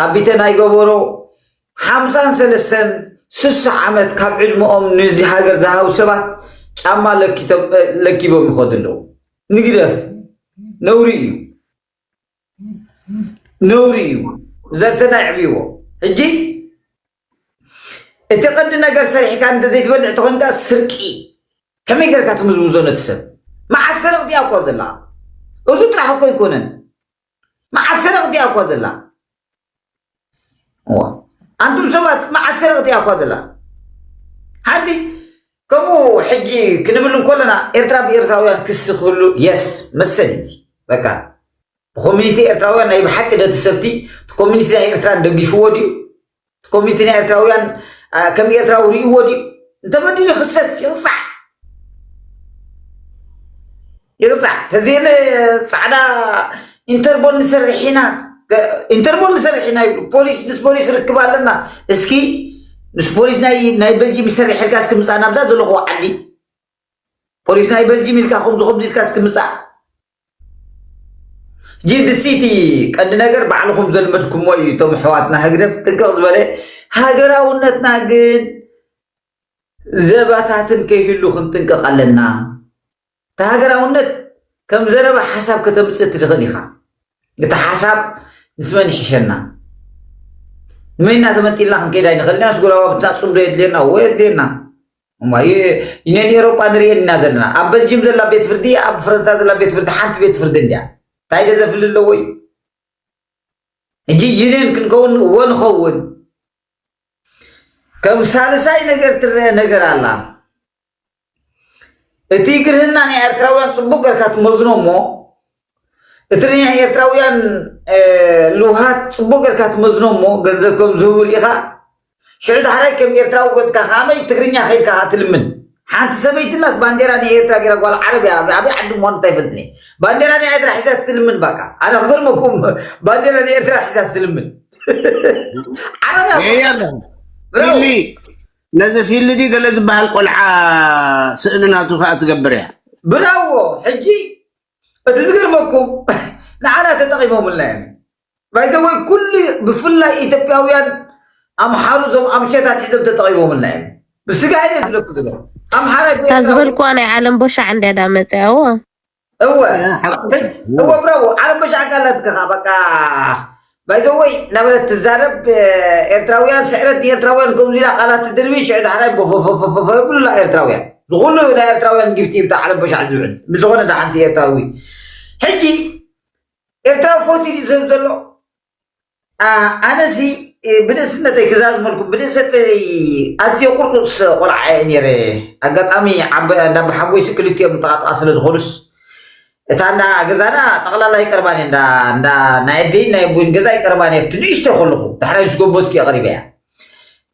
ኣብ ቢተን ኣይገበሮ ሓምሳን ሰለስተን ስሳ ዓመት ካብ ዕድመኦም ንዚ ሃገር ዝሃቡ ሰባት ጫማ ለኪቦም ይኸዱ ኣለዉ ንግደፍ ነውሪ እዩ ነውሪ እዩ ዘርሰና ይዕብይዎ ሕጂ እቲ ቀንዲ ነገር ሰሪሕካ እንተዘይትበልዕ ተኾንካ ስርቂ ከመይ ጌርካ ትምዝምዞ ነቲ ሰብ መዓስ ሰረቕቲ እያ እኮ ዘላ እዙ ጥራሕ እኮ ኣይኮነን መዓስ ሰረቕቲ እያ እኳ ዘላ እዋ ኣንቱም ሰባት መዓስ ሰረቕቲ እያ እኳ ዘላ ሓንቲ ከምኡ ሕጂ ክንብል እንከለና ኤርትራ ብኤርትራውያን ክሲ ክህሉ የስ መሰል እዩ እዚ በቃ ብኮሚኒቲ ኤርትራውያን ናይ ብሓቂ ነቲ ሰብቲ ኮሚኒቲ ናይ ኤርትራን ደጊፍዎ ድዩ ኮሚቲ ናይ ኤርትራውያን ከም ኤርትራዊ ርእይዎ ድዩ? እንተበዲሉ ይኽሰስ ይቕጻዕ ይቕጻዕ ተዘየለ ጻዕዳ ኢንተርቦል ንሰርሕ ኢና ኢንተርቦል ንሰርሕ ኢና ይብሉ ፖሊስ ምስ ፖሊስ ርክብ ኣለና እስኪ ምስ ፖሊስ ናይ በልጂም ይሰርሕ ኢልካ እስኪ ምጻእ ናብዛ ዘለኹዎ ዓዲ ፖሊስ ናይ በልጂም ኢልካ ከምዚ ከምዚ ኢልካ እስኪ ምጻእ ጂዲ ሲቲ ቀንዲ ነገር ባዕልኹም ዘልመድኩሞ እዩ እቶም ኣሕዋትና ህግደፍ ጥንቅቕ ዝበለ ሃገራውነትና ግን ዘባታትን ከይህሉ ክንጥንቀቕ ኣለና እቲ ሃገራውነት ከም ዘረባ ሓሳብ ከተምፅእ ትኽእል ኢኻ እቲ ሓሳብ ምስ መን ይሕሸና ንመይና ተመንጢልና ክንከይድ ኣይንኽእል ኢና ስጉራባብትና ፅምዶ የድልየና እዎ የድልየና እሞ ይ- ዩኒየን ኤሮጳ ንርእየን ኢና ዘለና ኣብ በልጅም ዘላ ቤት ፍርዲ ኣብ ፈረንሳ ዘላ ቤት ፍርዲ ሓንቲ ቤት ፍርዲ እንድያ እንታይ ደ ዘፍሊ ኣለዎ እዩ ሕጂ ዩኒየን ክንከውን እዎ ንኸውን ከም ሳልሳይ ነገር ትረአ ነገር ኣላ እቲ ግርህና ናይ ኤርትራውያን ጽቡቅ ገርካ ትመዝኖ እሞ እቲ ናይ ኤርትራውያን ልውሃት ጽቡቕ ጌርካ ትመዝኖ እሞ ገንዘብ ከም ዝህቡ ርኢኻ ሽዑ ዳሕራይ ከም ኤርትራዊ ኮትካ ከመይ ትግርኛ ከይድካ ከኣ ትልምን ሓንቲ ሰበይትናስ ባንዴራ ናይ ኤርትራ ጌራ ጓል ዓረብ እያ ኣበይ ዓዲ ምዃኑ እንታይፈልጥኒ ባንዴራ ናይ ኤርትራ ሒዛ ስትልምን ባቃ ኣነ ክገርመኩም ባንዴራ ናይ ኤርትራ ሒዛ ስትልምን ዓረብ እያ ፊሊ ነዚ ፊሊ ዲ ገለ ዝበሃል ቆልዓ ስእሊ ናቱ ከዓ ትገብር እያ ብራዎ ሕጂ እቲ ዝገርመኩም ንዓና ተጠቂሞምልና እዮም ባይዘወይ ኩሉ ብፍላይ ኢትዮጵያውያን ኣምሓሩ ዞም ኣምቸታት ሒዞም ተጠቂሞምልና እዮም ብስጋ ኢለ ዝለኩ ዝለ ኣምሓራ እታ ዝበልኩዋ ናይ ዓለም ቦሻዕ እንድያ ዳ መፅያዎ እወ እወ ብራዎ ዓለም ቦሻዕ ካላትከኻ በቃ ባይ ዘ ወይ እናበለት ትዛረብ ኤርትራውያን ስዕረት ንኤርትራውያን ከምዚ ኢላ ቃላት ትድርቢ ሽዑ ዳሕራይ ቦፎፎፎፎፎ የብሉላ ኤርትራውያን ዝኹሉ እዩ ናይ ኤርትራውያን ጊፍቲ ብታ ዓለም በሻዕ ዝውዕል ብዝኾነ ዳሓንቲ ኤርትራዊ ሕጂ ኤርትራዊ ፎቲ ድዩ ዝህብ ዘሎ ኣነሲ ብንእስነተይ ክዛዝመልኩም ብንእሰነተይ ኣዝየ ቁርጡስ ቆልዓ እየ ነይረ ኣጋጣሚ ዓበ እንዳ ሓጎይሲ ክልቲኦም ተቓጥቓ ስለ ዝኾኑስ እታ እንዳ ገዛና ጠቕላላ ይቀርባን እየ እንዳ ናይ ኣደይን ናይ ኣቦይን ገዛ ይቀርባን እየ ኣብቲ ንእሽቶ ከለኹ ዳሕራይ ምስ ጎበዝኩ የቕሪበ እያ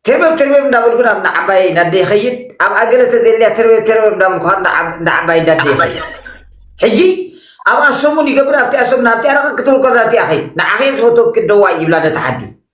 ትርበብ ትርበብ እንዳበልኩ ናብ ንዓባይ እንዳደ ይኸይድ ኣብ ኣገለ ተዘልያ ትርበብ ትርበብ እንዳበልኩ ንዓባይ እንዳደ ይኸይድ ሕጂ ኣብኣ ሰሙን ይገብር ኣብቲኣ ሰሙን ኣብቲኣ ረቐ ክትብል ከዛ እቲኣ ኸይድ ንዓኸየ ዝፈተው ክደዋይ ይብላ ነታ ሓዲ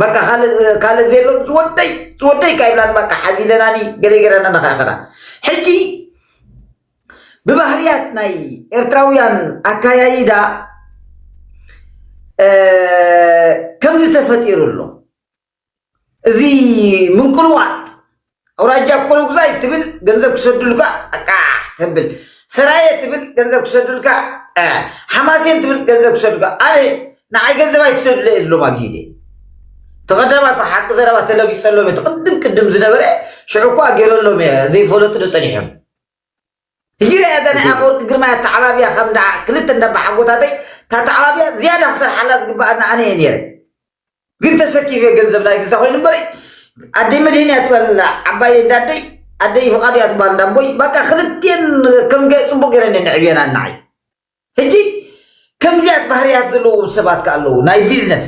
በቃ ካልእ ካልእ ዘየሎም ዝወደይ ዝወደይ ካ ይብላን በቃ ሓዚለናኒ ገለ ገረና ንኸኸዳ ሕጂ ብባህርያት ናይ ኤርትራውያን ኣካያይዳ ከምዚ ተፈጢሩ ኣሎ እዚ ምንቁልዋጥ ኣውራጃ ኮሎጉዛይ ትብል ገንዘብ ክሰዱልካ ኣቃዕ ተብል ሰራየ ትብል ገንዘብ ክሰዱልካ ሓማሴን ትብል ገንዘብ ክሰዱልካ ኣነ ንዓይ ገንዘብ ኣይትሰዱለ እየ ዝብሎም ኣግሂደ እቲ ቀዳማት ሓቂ ዘረባ ተለጊጸሎም እቲ ቅድም ቅድም ዝነበረ ሽዑ እኳ ገይረሎም እየ ዘይፈለጡ ዶ ጸኒሖም ህጂ ሪኣያ እዛ ናይ ኣፈወርቂ ግርማይ ኣተዓባብያ ከም እንዳ ክልተ እንዳ ኣባሓጎታተይ እታ ኣተዓባብያ ዝያዳ ክሰርሓላ ዝግበኣኒ ኣነ እየ ነይረ ግን ተሰኪፈ ገንዘብ ናይ ግዛ ኮይኑ እምበር ኣደይ መድህን እያ ትበሃል ዘላ ዓባየይ እንዳ ኣደይ ኣደይ ፍቓዱ እያ ትበሃል እንዳ ኣቦይ በቃ ክልቴን ከም ገ ጽቡቕ ገይረን እየን ኣዕብየናኒ ንዓይ ሕጂ ከምዚያት ባህርያት ዘለዎም ሰባት ከ ኣለዉ ናይ ቢዝነስ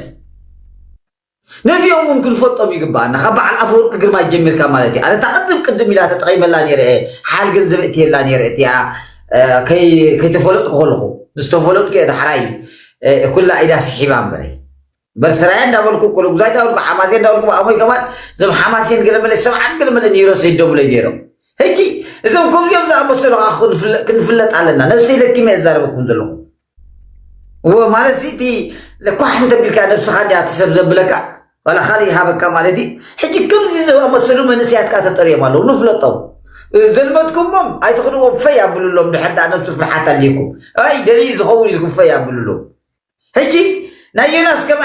ነዚኦም እውን ክንፈልጦም ይግባኣና ካብ በዓል ኣፈወርቂ ግርማይ ጀሚርካ ማለት እዩ ኣነ እታ ቅድም ቅድም ኢላ ተጠቒመላ ነይረ እየ ሓል ገንዘብ እትየላ ነይረ እቲኣ ከይተፈለጥኩ ከለኹ ምስ ተፈለጥኩ እየ ዳሕራይ ኩላ ኢዳ ስሒባ እምበረ እምበር ስራየ እንዳበልኩ ኩልጉዛ እንዳበልኩ ሓማሴ እንዳበልኩ ብኣሞይ ከማን እዞም ሓማሴን ገለ መለ ሰብዓን ገለ መለ ኒሮሰ ይደብለይ ነይሮም ሕጂ እዞም ከምዚኦም ዝኣመሰሉ ክንፍለጥ ኣለና ነብሰይ ለኪመ እዛረበኩም ዘለኹ እወ ማለት እዚ እቲ ኳሕ እንተቢልካ ነብስኻ እንዲያ እቲ ሰብ ዘብለካ ዋላ ካልእ ይሃበካ ማለት እዩ ሕጂ ከምዚ ዝኣመሰሉ መንእሰያት ከዓ ተጠርዮም ኣለዉ ንፍለጦም ዘልመድኩሞም ኣይትኽድዎም ፈይ ኣብሉሎም ድሕር ዳኣ ነብሱ ፍርሓት ኣልይኩም ኣይ ደልይ ዝኸውን ኢልኩም ፈይ ኣብሉሎም ሕጂ ናይ ዮናስ ከመ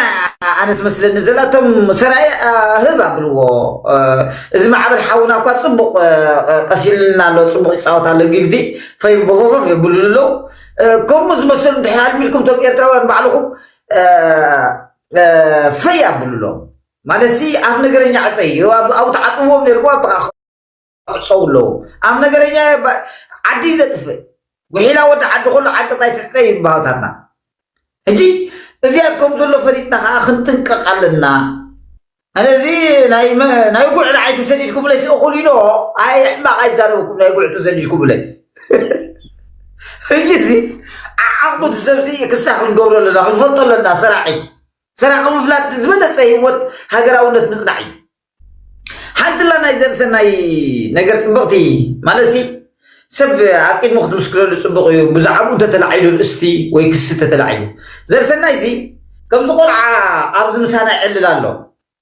ኣነ ትመስለኒ ዘላ እቶም ሰራየ ህብ ኣብልዎ እዚ ማዕበል ሓውና እኳ ፅቡቕ ቀሲልና ኣሎ ፅቡቕ ይፃወት ኣሎ ግግዲ ፈይ ቦፈፈፍ የብሉሉ ኣለዉ ከምኡ ዝመስል እንድሕር ኣልሚድኩም እቶም ኤርትራውያን ባዕልኹም ፈይ ኣብሉሎም ማለት ሲ ኣፍ ነገረኛ ዕፀ እዩ ኣብኡ ተዓፅዎም ነርኩም ኣብ ክዕፀው ኣለዎ ኣፍ ነገረኛ ዓዲ እዩ ዘጥፍእ ጉሒላ ወዲ ዓዲ ከሎ ዓንቀፃ ይትሕፀ እዩ ባህታትና ሕጂ እዚኣት ከም ዘሎ ፈሊጥና ከዓ ክንጥንቀቕ ኣለና ኣነ እዚ ናይ ናይ ጉዕ ንዓይ ተሰዲድኩምለይ ስእኹል ኢኖ ኣይ ሕማቕ ኣይዛረበኩም ናይ ጉዕ ተሰዲድኩምለይ ሕጂ እዚ ዓዓቑ ትሰብሲ ክሳዕ ክንገብሮ ኣለና ክንፈልጦ ኣለና ሰራቂ ሰራቂ ምፍላጥ ዝበለፀ ህይወት ሃገራውነት ምፅናዕ እዩ ሓንትላ ናይ ዘርሰናይ ነገር ፅብቕቲ ማለት ሰብ ኣቂድሞ ክትምስክረሉ ጽቡቕ እዩ ብዛዕብኡ እንተተላዒሉ ርእስቲ ወይ ክሲ እንተተላዒሉ። ዘርሰናይሲ ከምዚ ቆልዓ ኣብዚ ምሳና ይዕልል ኣሎ።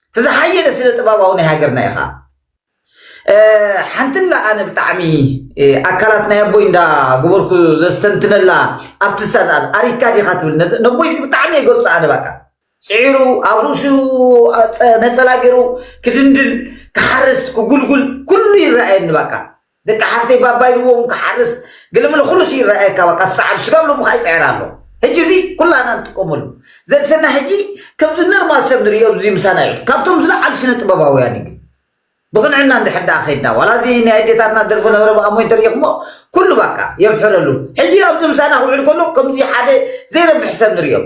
እቲ ዝሓየለ ስነ ጥበባዊ ናይ ሃገርና ኢኻ። ሓንትላ ኣነ ብጣዕሚ ኣካላት ናይ ኣቦይ እንዳ ግበርኩ ዘስተንትነላ ኣርቲስታ ዝኣ ኣሪካ ዲኻ ትብል ነቦይሲ ብጣዕሚ የገልጾ ኣነ ባቃ ጽዒሩ ኣብ ርእሱ ነጸላ ገይሩ ክድንድል ክሓርስ ክጉልጉል ኩሉ ይረኣየኒ ባቃ ደቂ ሓፍተይ ባባይዎ ውን ክሓርስ ግልምል ኩሉ ሲ ይረኣየካ በቃ ትሰዓሉ ስጋብ ሎሚ ከኣ ይጽዕር ኣሎ ሕጂ እዚ ኩላና ንጥቀመሉ ዘርሰና ሕጂ ከምዚ ነርማል ሰብ ንሪኦ እዚ ምሳና እዩ ካብቶም ዝለዓሉ ስነ ጥበባውያን እዩ ብቕንዕና እንድሕር ደኣ ከይድና ዋላ እዚ ናይ ኣዴታትና ደርፎ ነበረ በኣ እሞ እንተሪኢኹሞ ኩሉ በቃ የምሕረሉ ሕጂ ኣብዚ ምሳና ክውዕል ከሎ ከምዚ ሓደ ዘይረብሕ ሰብ ንሪኦ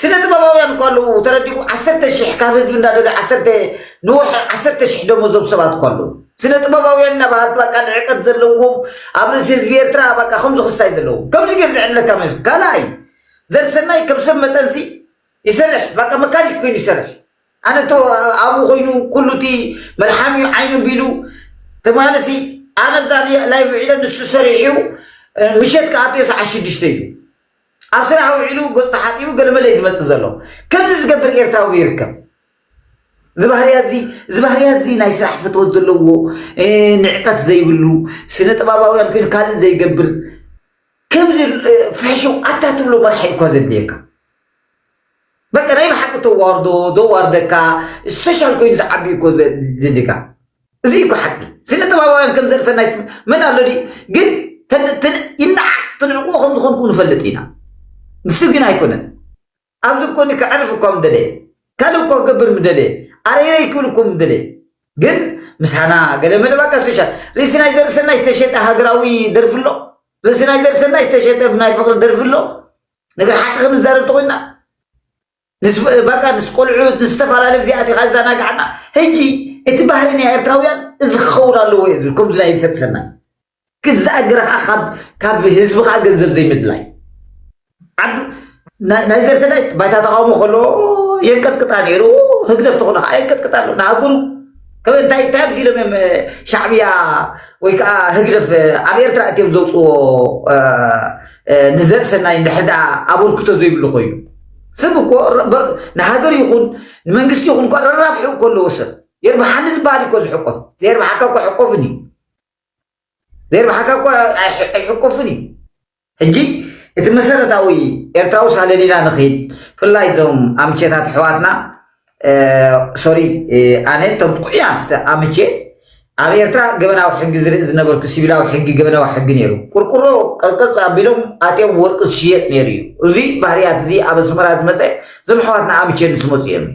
ስነ ጥበባውያን እኳ ኣለዉ ተረዲኡ ዓሰርተ ሽሕ ካብ ህዝቢ እንዳደልዩ ዓሰርተ ንወርሒ ዓሰርተ ሽሕ ደሞዝ ዞም ሰባት እኳ ኣለዉ ስነ ጥበባውያን እና በሃልቲ በቃ ንዕቀት ዘለዎም ኣብ ርእሲ ህዝቢ ኤርትራ በቃ ከምዚ ክስታይ ዘለዎም ከምዚ ጌር ዝዕብለካ መስ ካልኣይ ዘርሰናይ ከም ሰብ መጠንሲ ይሰርሕ በቃ መካኒክ ኮይኑ ይሰርሕ ኣነ እቶ ኣብኡ ኮይኑ ኩሉ እቲ መልሓም እዩ ዓይኑ ቢሉ ትማልሲ ኣነ ብዛ ላይቭ ዒለ ንሱ ሰሪሑ ምሸት ከኣትዮ ሰዓት ሽዱሽተ እዩ ኣብ ስራሕ ውዒሉ ገጹ ተሓጺቡ ገለመለ እዩ ዝመጽእ ዘሎ። ከምዚ ዝገብር ኤርትራዊ ዶ ይርከብ? እዚ ባህርያት እዚ እዚ ባህርያት እዚ ናይ ስራሕ ፍትወት ዘለዎ ንዕቀት ዘይብሉ ስነ ጥበባውያን ኮይኑ ካልእ ዘይገብር ከምዚ ፍሕሽው ኣታ ትብሎ መራሒ እኳ ዘድልየካ በቃ ናይ ብሓቂ ተዋርዶ ዘዋርደካ ሶሻል ኮይኑ ዝዓቢ እኮ ዘድልካ እዚ እኮ ሓቂ ስነጥበባውያን ከም ዘርሰናይ ስም መን ኣሎ ድዩ ግን ይናዕ ትንዕቁዎ ከም ዝኾንኩ ንፈልጥ ኢና ንሱ ግን ኣይኮነን ኣብዚ ኮኒ ክዕርፍ እኳ ምደለየ ካልእ እኳ ክገብር ምደለየ ኣረይረይ ክብል እኮ ምደለየ ግን ምሳና ገለ መደባካ ሶሻል ርእሲ ናይ ዘርሰናይ ዝተሸጠ ሃገራዊ ደርፊ ኣሎ ርእሲ ናይ ዘርሰናይ ዝተሸጠ ናይ ፍቕሪ ደርፊ ኣሎ ነገር ሓቂ ክንዛረብ ተኮይና ንስበቃ ንስ ቆልዑ ንዝተፈላለዩ ጊዜ ኣቲኻ ይዘናግዓና ሕጂ እቲ ባህሪ ናይ ኤርትራውያን እዚ ክኸውን ኣለዎ እዩ ዝብል ከምዚ ናይ ሰብ ሰናይ ግን ዝኣገረ ከዓ ካብ ህዝቢ ከዓ ገንዘብ ዘይምድላይ ናይ ዘርሰናይ ባይታ ተቃውሞ ከሎ የንቀጥቅጣ ነይሩ ህግደፍ ተኾነ ከዓ የንቀጥቅጣ ኣሎ ንሃገሩ ከመይ እንታይ እንታይ ኣብዚ ኢሎም እዮም ሻዕብያ ወይ ከዓ ህግደፍ ኣብ ኤርትራ እትዮም ዘውፅዎ ንዘርሰናይ ንድሕር ኣበርክቶ ዘይብሉ ኮይኑ ሰብ እኮ ንሃገር ይኹን ንመንግስቲ ይኹን እኮ ረራብሕኡ እኮ ኣለዎ ሰብ የርብሓኒ ዝበሃል እኮ ዝሕቆፍ ዘየርብሓካ እኮ ሕቆፍን እዩ ዘየርብሓካ እኮ ኣይሕቆፍን እዩ ሕጂ እቲ መሰረታዊ ኤርትራዊ ሳለሊና ንኽይድ ብፍላይ እዞም ኣምቼታት ኣሕዋትና ሶሪ ኣነ እቶም ጥዑያት ኣምቼ ኣብ ኤርትራ ገበናዊ ሕጊ ዝርኢ ዝነበርኩ ሲቪላዊ ሕጊ ገበናዊ ሕጊ ነይሩ ቁርቁሮ ቀልቀፅ ኣቢሎም ኣትዮም ወርቂ ዝሽየጥ ነይሩ እዩ እዚ ባህርያት እዚ ኣብ ኣስመራ ዝመፀ እዞም ኣሕዋትና ኣምቼ ምስ መፁ እዮም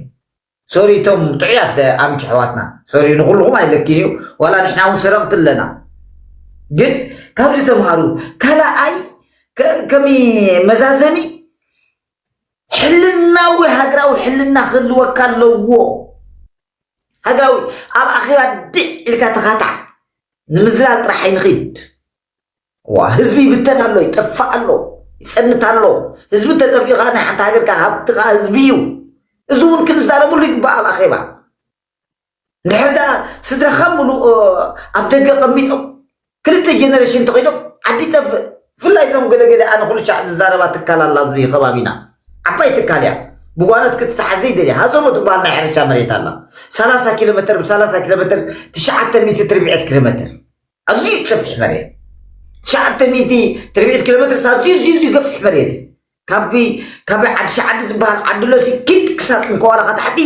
ሶሪ እቶም ጥዑያት ኣምቼ ኣሕዋትና ሶሪ ንኩልኩም ኣይለኪን እዩ ዋላ ንሕና እውን ሰረቕቲ ኣለና ግን ካብዚ ተምሃሩ ካልኣይ ከሚ መዛዘሚ ሕልናዊ ሃገራዊ ሕልና ክህልወካ ኣለዎ ሃገራዊ ኣብ ኣኼባ ድዕ ኢልካ ተኻታዕ ንምዝላል ጥራሕ ኣይንኺድ ዋ ህዝቢ ይብተን ኣሎ ይጠፋእ ኣሎ ይፀንት ኣሎ ህዝቢ ተጠፊኡካ ናይ ሓንቲ ሃገርካ ሃብትኻ ህዝቢ እዩ እዚ እውን ክንዛረብሉ ይግባእ ኣብ ኣኼባ እንድሕር ደኣ ስድራኻ ምሉእ ኣብ ደገ ቀሚጦም ክልተ ጀነሬሽን ተኾይኖም ዓዲ ይጠፍእ ብፍላይ እዞም ገለገለ ኣነ ኩልሻዕ ዝዛረባ ትካል ኣላ ኣብዚ ከባቢና ዓባይ ትካል እያ ብጓኖት ክትተሓዝ ዘይደልያ ሃዞሞ ትበሃል ናይ ሕርሻ መሬት ኣላ ሰላሳ ኪሎ ሜትር ብሰላሳ ኪሎ ሜትር ትሽዓተ ሚእቲ ትርብዒት ኪሎ ሜትር ኣዝዩ ሰፊሕ መሬት ትሽዓተ ሚእቲ ትርብዒት ኪሎ ሜትር ኣዝዩ ዝዩ ዝዩ ገፊሕ መሬት እዩ ካቢ ካቢ ዓዲ ሸዓዲ ዝበሃል ዓዲ ሎሲ ኪድ ክሳብ ጥንኮዋላኻ ታሕቲ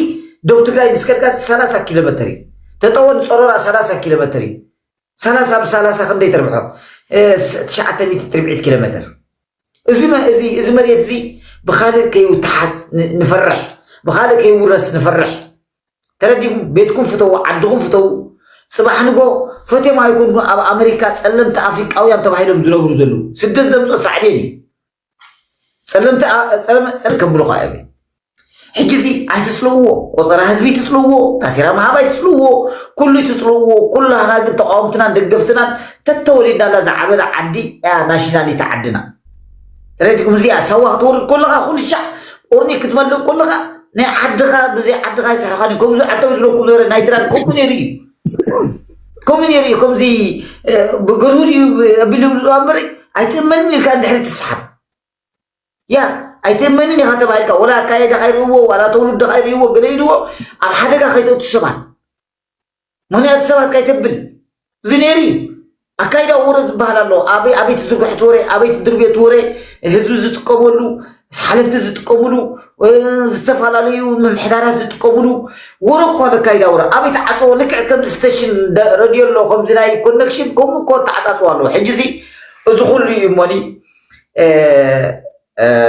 ደቡብ ትግራይ ምስ ከድካ ሰላሳ ኪሎ መተር እዩ ተጠወ ንፀሮራ ሰላሳ ኪሎ መተር እዩ ሰላሳ ብሰላሳ ክንደይ ተርብሖ ትሽዓተ ሚእቲ ትርብዒት ኪሎ መተር እዚ መ- እዚ እዚ መሬት እዚ ብካልእ ከይውተሓዝ ን- ንፈርሕ ብካልእ ከይውረስ ንፈርሕ ተረዲኹም ቤትኩም ፍተዉ ዓድኹም ፍተዉ ፅባሕ ንጎ ፈትዮም ኣይኮንኩን ኣብ ኣሜሪካ ፀለምቲ ኣፍሪቃውያን ተባሂሎም ዝነብሩ ዘለዉ ስደት ዘምፅኦ ሳዕቤን እዩ ጸለምቲ ጸለመ ከብሉኻ እዮም ሕጂ እዚ ኣይትጽልውዎ ቆጸራ ህዝቢ ትጽልውዎ ታሴራ ምሃብ ኣይትጽልውዎ ኩሉ ትጽልውዎ ኩላህና ግን ተቃወምትናን ደገፍትናን ተተወሊድናላ ዝዓበና ዓዲ እያ ናሽናሊቲ ዓድና ረጅኩም እዚኣ ሳዋ ክትወርድ ከለኻ ኩሉ ሻዕ ቁርኒ ክትመልእ ከለኻ ናይ ዓድኻ ብዘይ ዓድኻ ይስሕኻን እዩ ከምዚ ዓደው ዝለኩም ነበረ ናይ ትራል ከምኡ ነይሩ እዩ ከምኡ ነይሩ እዩ ከምዚ ብግርሁዝ እዩ ኣቢሉ ዝብልዋ እምበር ኣይትእመንን ኢልካ ንድሕሪ ትስሓብ ያ ኣይትእመንን ኢኻ ተባሂልካ ወላ ኣካየዳኻ ይርእዎ ዋላ ተውልድኻ ይርእዎ ገለ ይርእዎ ኣብ ሓደጋ ከይተእቱ ሰባት ምክንያቱ ሰባት ከይተብል እዚ ነይሩ እዩ ኣካይዳዊ ወረ ዝበሃል ኣሎ። ኣበይ ኣበይ ትዝርግሑት ወረ፣ ኣበይ ትድርብዮት ወረ፣ ህዝቢ ዝጥቀመሉ፣ ሓለፍቲ ዝጥቀምሉ፣ ዝተፈላለዩ ምምሕዳራት ዝጥቀምሉ ወረ እኮ ኣሎ። ኣካይዳዊ ወረ ኣበይ ተዓጽዎ? ልክዕ ከምዚ ስተሽን ረድዮ ኣሎ፣ ከምዚ ናይ ኮነክሽን ከምኡ እኮ ተዓጻጽዎ ኣሎ። ሕጂሲ እዚ ኩሉ እዩ እሞኒ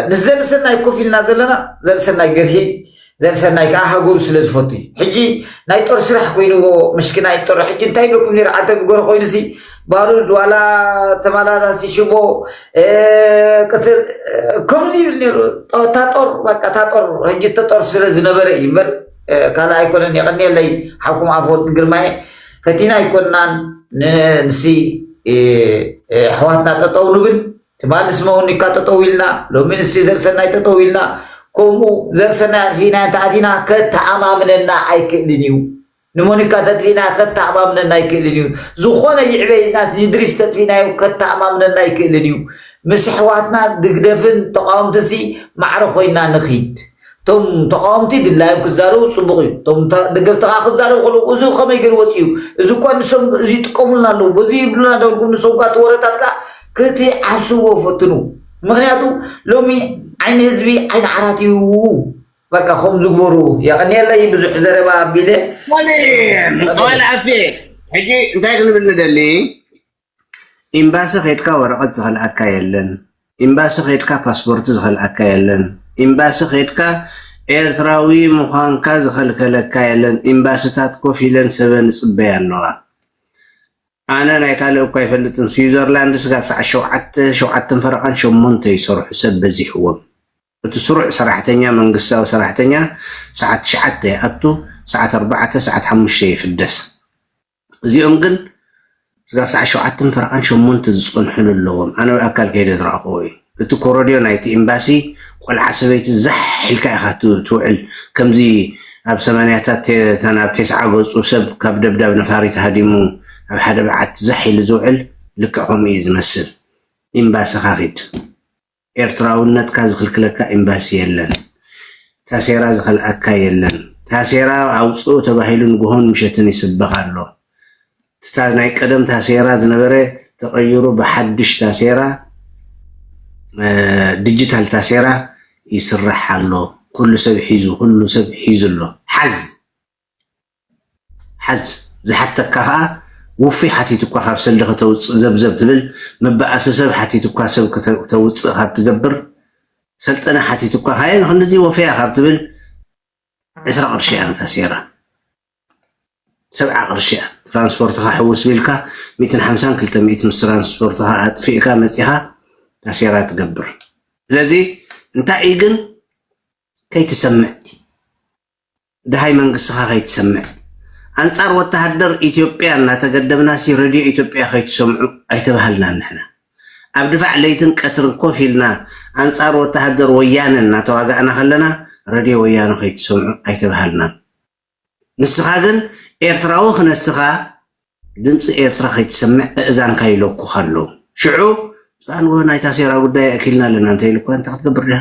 ምስ ዘርሰናይ ኮፍ ኢልና ዘለና ዘርሰናይ ግርሂ ዘርሰናይ ከዓ ሃገሩ ስለ ዝፈቱ እዩ ሕጂ ናይ ጦር ስራሕ ኮይኑዎ ምሽክናይ ጦር ሕጂ እንታይ ይበኩም ነይሩ ዓንተ ብጎረ ኮይኑሲ ባሩድ ዋላ ተመላላሲ ሽቦ ቅትል ከምዚ ይብል ነይሩ እታ ጦር በቃ እታ ጦር ሕጂ እተ ጦር ስለ ዝነበረ እዩ እምበር ካልእ ኣይኮነን የቐኒየለይ ሓኩም ኣፈወርቂ ግርማየ ፈቲና ኣይኮናን ንሲ ኣሕዋትና ጠጠው ንብል ትማሊ ስመውኒካ ጠጠው ኢልና ሎሚ ንሲ ዘርሰናይ ጠጠው ኢልና ከምኡ ዘርሰናይ ኣጥፊእና እንተኣቲና ከተኣማምነና ኣይክእልን እዩ ንሞኒካ ተጥፊእና ከተኣማምነና ኣይክእልን እዩ ዝኾነ ይዕበይናስ ንድሪስ ተጥፊእናዮ ከተኣማምነና ኣይክእልን እዩ ምስ ኣሕዋትና ድግደፍን ተቃወምትንሲ ማዕረ ኮይና ንኺድ እቶም ተቓወምቲ ድላዮም ክዛረቡ ጽቡቕ እዩ፣ እቶም ደገፍቲ ከኣ ክዛረቡ ከለዉ እዚ ከመይ ገይሩ ወጺኡ እዩ፣ እዚ እኳ ንሶም እዚ ይጥቀሙልና ኣለዉ፣ በዚ ይብሉና እንዳበልኩም ንሶም ከኣ እቲ ወረታት ከኣ ክትዓስዎ ፈትኑ፣ ምኽንያቱ ሎሚ ዓይኒ ህዝቢ ዓይኒ ዓራት እዩ። በቃ ከምኡ ዝግበሩ የቐንየለይ ብዙሕ ዘረባ ኣቢለ ወል ኣፌ ሕጂ እንታይ ክንብል ንደሊ ኢምባሲ ከድካ ወረቀት ዝከልኣካ የለን ኢምባሲ ከድካ ፓስፖርቲ ዝከልኣካ የለን ኢምባሲ ከድካ ኤርትራዊ ምኳንካ ዝከልከለካ የለን ኢምባስታት ኮፍ ኢለን ሰበን ይጽበያ ኣለዋ ኣነ ናይ ካልእ እኳ ኣይፈልጥን ስዊዘርላንድ ስጋብ ሰዓት ሸውዓተ ሸውዓተን ፈረቃን ሸሞንተ ይሰርሑ ሰብ በዚሕዎም እቲ ስሩዕ ሰራሕተኛ መንግስታዊ ሰራሕተኛ ሰዓት ትሽዓተ ይኣቱ ሰዓት ኣርባዕተ ሰዓት ሓሙሽተ ይፍደስ እዚኦም ግን ስጋብ ሰዓት ሸውዓተን ፈረቓን ሸሞንተ ዝጸንሑሉ ኣለዎም ኣነ ብኣካል ከይደ ዝረኣኹዎ እዩ እቲ ኮሮድዮ ናይቲ ኤምባሲ ቆልዓ ሰበይቲ ዛሕ ኢልካ ኢኻ ትውዕል ከምዚ ኣብ ሰማንያታት እተን ኣብ ቴስዓ ገጹ ሰብ ካብ ደብዳብ ነፋሪት ሃዲሙ ኣብ ሓደ በዓቲ ዛሕ ኢሉ ዝውዕል ልክዕ ከምኡ እዩ ዝመስል ኤምባስኻ ኺድ ኤርትራውነትካ ዝኽልክለካ ኤምባሲ የለን ታሴራ ዝኸልኣካ የለን ታሴራ ኣውጽኡ ተባሂሉ ንግሆን ምሸትን ይስበኽ ኣሎ ትታ ናይ ቀደም ታሴራ ዝነበረ ተቐይሩ ብሓድሽ ታሴራ ዲጂታል ታሴራ ይስራሕ ኣሎ ኩሉ ሰብ ሒዙ ኩሉ ሰብ ሒዙ ኣሎ ሓዝ ሓዝ ዝሓተካ ከኣ ውፉይ ሓቲቱካ ካብ ሰልዲ ከተውጽእ ዘብዘብ ትብል መባኣሲ ሰብ ሓቲቱካ ሰብ ክተውጽእ ካብ ትገብር ሰልጠነ ሓቲቱካ ካየ ንክንድዚ ወፈያ ካብ ትብል ዕስራ ቅርሺ እያ ነታ ሴራ ሰብዓ ቅርሺ እያ ትራንስፖርትካ ሕውስ ቢልካ ሚእትን ሓምሳን ክልተ ሚእትን ምስ ትራንስፖርትካ ኣጥፊእካ መጺኻ ታሴራ ትገብር ስለዚ እንታይ እዩ ግን ከይትሰምዕ ደሃይ መንግስትኻ ከይትሰምዕ ኣንጻር ወተሃደር ኢትዮጵያ እናተገደብናሲ ረድዮ ኢትዮጵያ ከይትሰምዑ ኣይተባሃልናን ንሕና ኣብ ድፋዕ ለይትን ቀትርን ኮፍ ኢልና ኣንጻር ወተሃደር ወያነ እናተዋጋእና ከለና ረድዮ ወያነ ከይትሰምዑ ኣይተባሃልናን ንስኻ ግን ኤርትራዊ ክነስኻ ድምጺ ኤርትራ ከይትሰምዕ እእዛንካ ይለኩኻ ኣሎ ሽዑ ኣንወ ናይ ታሴራ ጉዳይ ኣእኪልና ኣለና እንተኢሉ እኳ እንታይ ክትገብር ድያ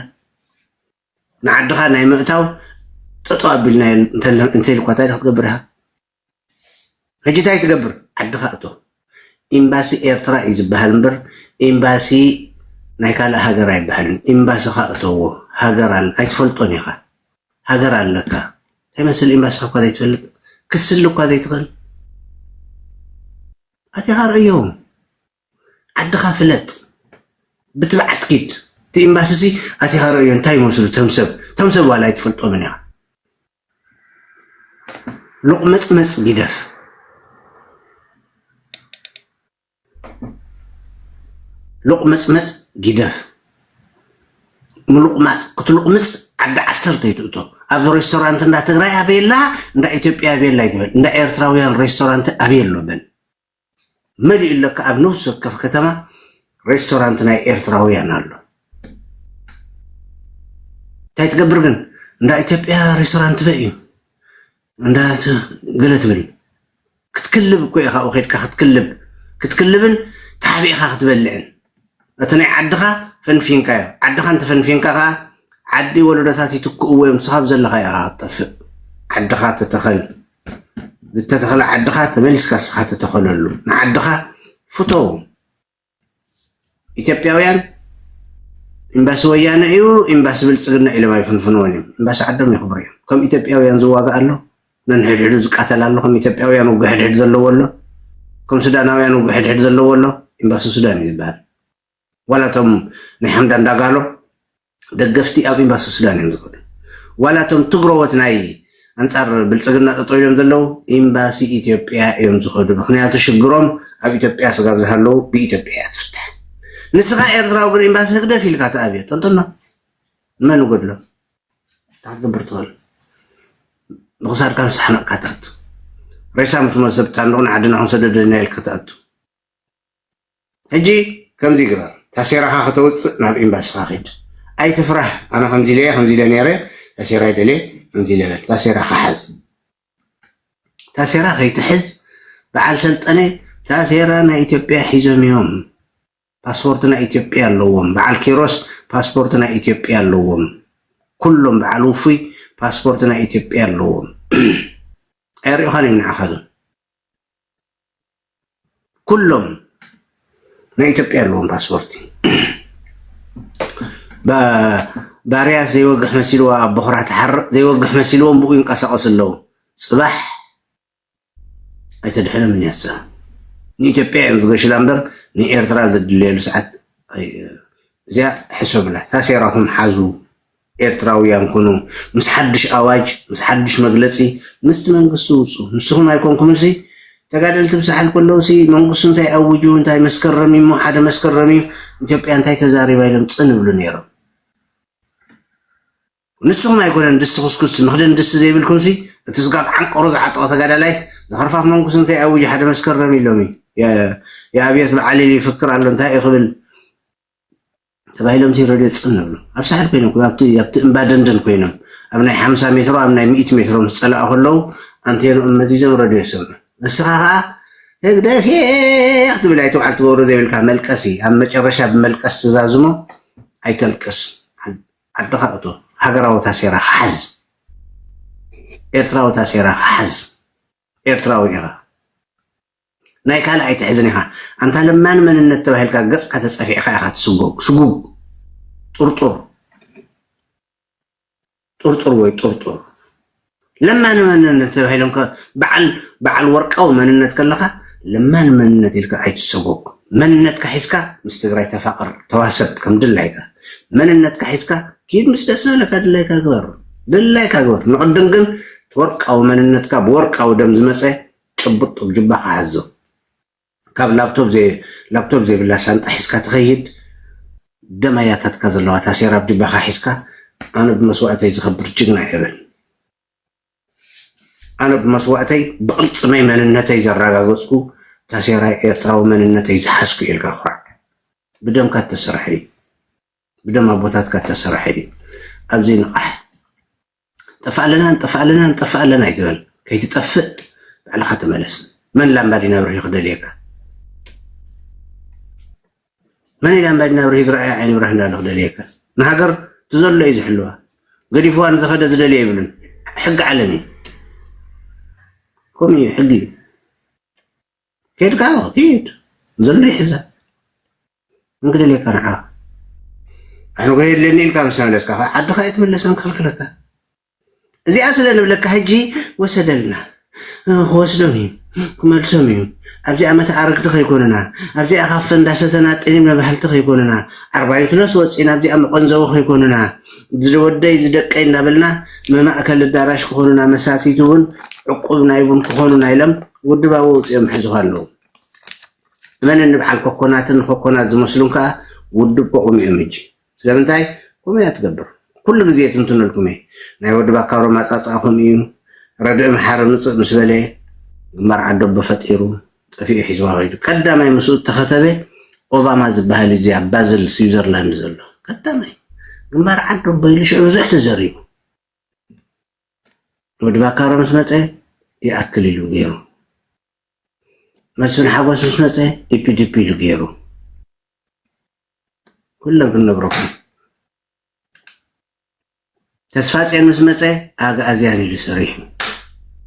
ንዓድኻ ናይ ምእታው ጠጠው ኣቢልና እንተኢልኳ ታይ ክትገብር ኢኻ? ሕጂ እንታይ ትገብር? ዓድኻ እቶ ኤምባሲ ኤርትራ እዩ ዝበሃል እምበር ኤምባሲ ናይ ካልእ ሃገር ኣይበሃልን። ኤምባስኻ እተዎ ሃገር ኣለ ኣይትፈልጦን ኢኻ ሃገር ኣለካ እንታይ መስል ኤምባስኻ እኳ ዘይትፈልጥ ክትስሊ እኳ ዘይትኽእል ኣቲኻ ርእዮም። ዓድኻ ፍለጥ ብትብዓት ኪድ እቲ ኢምባሲሲ ኣቲኻ ረእዮ እንታይ ይመስሉ እቶም ሰብ እቶም ሰብ ዋላ ኣይትፈልጦምን ኢኻ ሎቕመጽመጽ ጊደፍ ሎቕመጽመጽ ጊደፍ ምሉቕማፅ ክትሉቕምፅ ዓዲ ዓሰርተ ይትእቶ ኣብ ሬስቶራንት እንዳ ትግራይ ኣበየላ እንዳ ኢትዮጵያ ኣበየላ ይትበል እንዳ ኤርትራውያን ሬስቶራንት ኣበየሎ በል መሊኡ ለካ ኣብ ነብሲ ወከፍ ከተማ ሬስቶራንት ናይ ኤርትራውያን ኣሎ እንታይ ትገብር ግን እንዳ ኢትዮጵያ ሬስቶራንት በ እዩ እንዳ ገለ ትብል ክትክልብ እኮ ኢኻ ኣብኡ ከድካ ክትክልብ ክትክልብን ተሓቢእኻ ክትበልዕን እቲ ናይ ዓድኻ ፈንፊንካ እዩ ዓድኻ እንተፈንፊንካ ከዓ ዓዲ ወለዶታት ይትክእዎ እዮም ንስኻ ዘለኻ ኢኻ ክትጠፍእ ዓድኻ ተተኸል ዝተተኽለ ዓድኻ ተመሊስካ እስኻ ተተኸለሉ ንዓድኻ ፍተው ኢትዮጵያውያን ኤምባሲ ወያነ እዩ ኤምባሲ ብልፅግና ኢሎም ኣይፍንፍንዎን እዮም ኤምባሲ ዓዶም የኽብሩ እዮም ከም ኢትዮጵያውያን ዝዋጋእ ኣሎ ነንሕድሕዱ ዝቃተል ኣሎ ከም ኢትዮጵያውያን ውግ ሕድሕድ ዘለዎ ኣሎ ከም ሱዳናውያን ውግ ሕድሕድ ዘለዎ ኣሎ ኤምባሲ ሱዳን እዩ ዝበሃል ዋላ እቶም ናይ ሓምዳን ዳጋሎ ደገፍቲ ኣብ ኤምባሲ ሱዳን እዮም ዝኸዱ። ዋላ እቶም ትግረዎት ናይ ኣንጻር ብልጽግና ጠጠው ኢሎም ዘለዉ ኤምባሲ ኢትዮጵያ እዮም ዝኸዱ። ምክንያቱ ሽግሮም ኣብ ኢትዮጵያ ስጋብ ዝሃለዉ ብኢትዮጵያ እያ ትፍታሕ። ንስኻ ኤርትራዊ ግን ኤምባሲ ህግደፍ ኢልካ ተኣብዮ ጠንጥኖ መን ጎድሎ እንታይ ክትገብር ትኽእል ብክሳድካ ንሳሕነቕካ ትኣቱ ሬሳ ምትሞ ሰብ ጣንዱቕ ንዓድና ክንሰደደና ኢልካ ትኣቱ ሕጂ ከምዚ ግበር ታሴራካ ከተውጽእ ናብ ኤምባስካ ኪድ ኣይትፍራህ ኣነ ከምዚ ኢለ ከምዚ ኢለ ነይረ ታሴራ ይደልየ ከምዚ ኢለ በል ታሴራካ ሓዝ ታሴራ ከይትሕዝ በዓል ሰልጠነ ታሴራ ናይ ኢትዮጵያ ሒዞም እዮም ፓስፖርት ናይ ኢትዮጵያ ኣለዎም በዓል ኪሮስ ፓስፖርት ናይ ኢትዮጵያ ኣለዎም ኩሎም በዓል ውፉይ ፓስፖርት ናይ ኢትዮጵያ ኣለዎም ኣይሪእኻን እዮም ንዓኻ ግን ኩሎም ናይ ኢትዮጵያ ኣለዎም ፓስፖርቲ ባርያ ዘይወግሕ መሲልዋ ኣብ ቦኽራ ትሓርቕ ዘይወግሕ መሲልዎም ብኡ ይንቀሳቐሱ ኣለዉ ፅባሕ ኣይተድሕንም እኒያሳ ንኢትዮጵያ እዮም ዝገሽላ እምበር ንኤርትራ ዘድልየሉ ሰዓት እዚኣ ሕሰብላ ታሴራኹም ሓዙ ኤርትራውያን ኩኑ ምስ ሓዱሽ ኣዋጅ ምስ ሓዱሽ መግለጺ ምስቲ መንግስቲ ውጹ ንስኩም ኣይኮንኩምን ሲ ተጋደልቲ ብሳሕል ከለዉ ሲ መንግስቱ እንታይ ኣውጁ እንታይ መስከረም እሞ ሓደ መስከረም እዩ ኢትዮጵያ እንታይ ተዛሪባ ኢሎም ጽን ይብሉ ነይሮም ንስኹም ኣይኮነን ድስቲ ኩስኩስ ምኽደን ድስቲ ዘይብልኩም ሲ እቲ ስጋብ ዓንቀሩ ዝዓጠቐ ተጋዳላይስ ዝኸርፋፍ መንጉስ እንታይ ኣውጅ ሓደ መስከረም ኢሎሚ የኣብዮት በዓሊል ይፍክር ኣሎ እንታይ እዩ ክብል ተባሂሎም ሲረድዮ ጽን እብሉ። ኣብ ሳሕል ኮይኖም ክብ ኣብቲ ኣብቲ እምባ ደንደን ኮይኖም ኣብ ናይ ሓምሳ ሜትሮ ኣብ ናይ ሚእቲ ሜትሮ ምስ ጸላኡ ከለዉ ኣንቴንኦም መዚዞም ረድዮ ይሰምዑ። ንስኻ ከኣ ህግደፌ ክትብል ኣይትውዓል ትገብሮ ዘይብልካ መልቀሲ ኣብ መጨረሻ ብመልቀስ ትዛዝሞ ኣይተልቅስ ዓድኻ እቶ ሃገራዊ ታሴራኻ ሓዝ ኤርትራዊ ታሴራኻ ሓዝ ኤርትራዊ ኢኻ። ናይ ካልእ ኣይትሕዝን ኢኻ ኣንታ ለማኒ መንነት ተባሂልካ ገጽካ ተጸፊዕካ ኢኻ ትስጎግ ስጉግ ጥርጡር ጥርጡር ወይ ጥርጡር ለማኒ መንነት ተባሂሎም በዓል በዓል ወርቃዊ መንነት ከለኻ ለማኒ መንነት ኢልካ ኣይትሰጎግ መንነትካ ሒዝካ ምስ ትግራይ ተፋቕር ተዋሰብ ከም ድላይካ መንነትካ ሒዝካ ኪድ ምስ ደስ ዘለካ ድላይካ ግበር ድላይካ ግበር ንቕድም ግን ወርቃዊ መንነትካ ብወርቃዊ ደም ዝመፀ ጭቡጥ ጡብ ጁባኻ ሓዞ ካብ ላፕቶብ ዘይብላ ሳንጣ ሒዝካ ትኸይድ ደም ኣያታትካ ዘለዋ ታሴራ ኣብ ጁባኻ ሒዝካ ኣነ ብመስዋእተይ ዝኸብር ጅግና ኤረን ኣነ ብመስዋእተይ ብቕልፅመይ መንነተይ ዘራጋገፅኩ ታሴራ ኤርትራዊ መንነተይ ዝሓዝኩ ኢልካ ኩራዕ ብደምካ እተሰርሐ እዩ ብደም ኣቦታትካ እተሰርሐ እዩ ኣብዘይ ንቓሕ ጠፋእ ኣለና ንጠፋእ ኣለና ንጠፋእ ኣለና እዩ ዝበል ከይትጠፍእ ባዕልኻ ተመለስ መን ላምባዲና ብርሂ ክደልየካ መን ላምባዲና ብርሂ ዝረኣየ ዓይኒ ብርህ እንዳለ ክደልየካ ንሃገር ትዘሎ እዩ ዝሕልዋ ገዲፍዋ ንዝኸደ ዝደልየ ይብልን ሕጊ ዓለም እዩ ከምኡ እዩ ሕጊ እዩ ከድካ ሂድ ዘሎ ይሕዛ እንግደልየካ ንዓኻ ኣነጎ የድልየኒ ኢልካ ምስ ተመለስካ ከዓ ዓድኻ እየ ትምለስ መን ክኽልክለካ እዚኣ ስለ ንብለካ ሕጂ ወሰደልና ክወስዶም እዩ ክመልሶም እዩ ኣብዚኣ መተዓረግቲ ከይኮኑና ኣብዚኣ ካብ ፈንዳሰተና ጤኒም መባህልቲ ከይኮኑና ዓርባይቱ ነስ ወፂና ኣብዚኣ መቐንዘዊ ከይኮኑና ዝወደይ ዝደቀይ እናበልና መማእከል ኣዳራሽ ክኾኑና መሳቲት እውን ዕቁብ ናይ ቡን ክኾኑና ኢሎም ውድባዊ ውፅኦም ሕዝኻ ኣለዉ መን እኒ በዓል ኮኮናትን ኾኮናት ዝመስሉን ከኣ ውድብ ከቑሙ እዮም ሕጂ። ስለምንታይ ከምኡ እያ ትገብር። ኩሉ ግዜ የትንትነልኩም እየ። ናይ ወዲ ባካሮ ማጻጻኣ ከምኡ እዩ። ረድኢ መሓሪ ምጽእ ምስ በለ ግንባር ዓደቦ ፈጢሩ ጠፊኡ ሒዝዋ ከይዱ። ቀዳማይ ምስኡ እተኸተበ ኦባማ ዝበሃል እዩ እዚ ኣብ ባዝል ስዊዘርላንድ ዘሎ። ቀዳማይ ግንባር ዓደቦ ኢሉ ሽዑ ብዙሕ ተዘሪቡ። ወዲ ባካሮ ምስ መጸ ይኣክል ኢሉ ገይሩ። መስፍን ሓጎስ ምስ መፀ ዲፒ ዲፒ ኢሉ ገይሩ ኩሎም ክንነግረኩም ተስፋፅዮን ምስ መፀ ኣግኣዝያን ኢሉ ሰሪሑ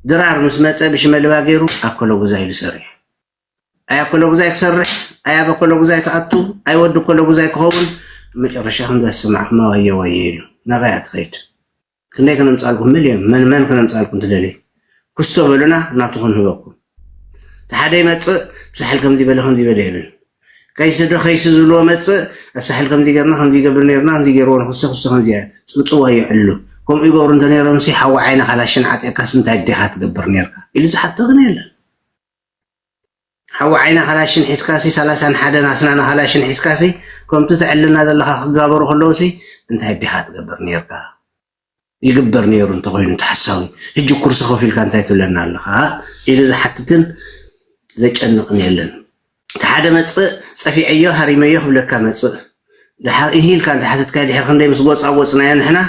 ድራር ምስ መፀ ብሽመልባ ገይሩ ኣኮሎጉዛ ኢሉ ሰሪሑ ኣይ ኣኮሎጉዛይ ክሰርሕ ኣይ ኣብ ኣኮሎጉዛይ ክኣቱ ኣይ ወዲ ኣኮሎጉዛይ ክኸውን መጨረሻ ከምዛ ዝሰማዕኩማ ወየ ወየ ኢሉ ናበይ ትኸይድ ክንደይ ከነምፃልኩም ምልዮም መን መን ከነምፃልኩም ትደልዩ ክስቶ በሉና ናቱ ክንህበኩም እቲ ሓደ ይመፅእ ብሳሕል ከምዚ በለ ከምዚ በለ ይብል ከይሲ ዶ ከይሲ ዝብልዎ መፅእ ኣብ ሳሕል ከምዚ ገርና ከምዚ ይገብር ነርና ከምዚ ገይርዎ ንክስቶ ክስቶ ከምዚ ፅንፅዋ ይዕሉ ከምኡ ይገብሩ እንተነይሮም ሲ ሓዊ ዓይነ ካላሽን ዓጢቕካስ እንታይ ዲኻ ትገብር ነርካ ኢሉ ዝሓቶ ግን የለን ሓዊ ዓይኒ ካላሽን ሒዝካሲ ሳላሳን ሓደን ኣስናን ካላሽን ሒዝካሲ ከምቱ ተዕልና ዘለካ ክጋበሩ ከለውሲ እንታይ ዲካ ትገብር ኔርካ ይግበር ኔሩ እንተኮይኑ እቲ ሓሳዊ ሕጂ ኩርሲ ከፊልካ እንታይ ትብለና ኣለካ ኢሉ ዝሓትትን ዘጨንቅን የለን እቲ ሓደ መጽእ ጸፊዐዮ ሃሪመዮ ክብለካ መጽእ ድሓር እሂ ኢልካ እንተሓተትካዮ ድሕሪ ክንደይ ምስ ጎጻጎጽናዮ ንሕና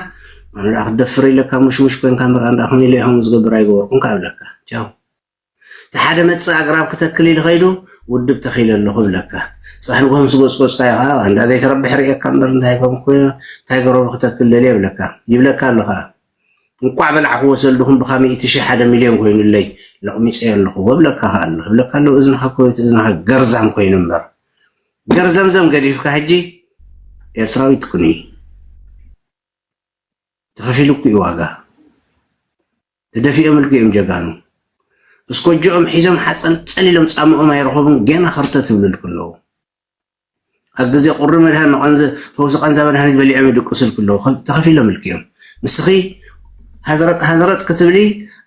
ኣነ ደኣ ክትደፍር ኢለካ ሙሽሙሽ ኮንካ ምበር ኣነ ደኣ ከመይ ኢለ ከምኡ ዝገብር ኣይገበርኩን ካብ ኢለካ ቻው እቲ ሓደ መጽእ ኣግራብ ክተክል ኢሉ ከይዱ ውድብ ተኺለ ኣለኹ ይብለካ ጽባሕ ንግሆ ምስ ጎጽጎጽካዮ ከኣ ኣንዳ ዘይተረብሕ ርእየካ እምበር እንታይ ኮንኩ እንታይ ገረቡ ክተክል ደልየ ይብለካ ይብለካ ኣሎ ከኣ እንቋዕ በላዕክዎ ሰልድኹም ብካ ሚእቲ ሽሕ ሓደ ሚልዮን ኮይኑለይ ለቕሚጸዮ ኣለኹ ወብለካ ከኣ ኣሎ ይብለካ ኣሎ እዝንኻ ኮት እዝንኻ ገርዛም ኮይኑ እምበር ገርዘምዘም ገዲፍካ ሕጂ ኤርትራዊ ትኩኒ ተኸፊሉኩ እዩ ዋጋ ተደፊኦም እልጊኦም ጀጋኑ እስኮጆኦም ሒዞም ሓጸልጸል ኢሎም ጻምኦም ኣይረኸቡን ገና ከርተት ይብልልኩ ኣለዉ ኣብ ግዜ ቁሪ መድሃን ንቐንዚ ፈውሲ ቃንዛ መድሃኒት በሊዖም ይድቅስልኩ ኣለዉ ተኸፊሎም እልጊኦም ንስኺ ሃዝረጥ ሃዝረጥ ክትብሊ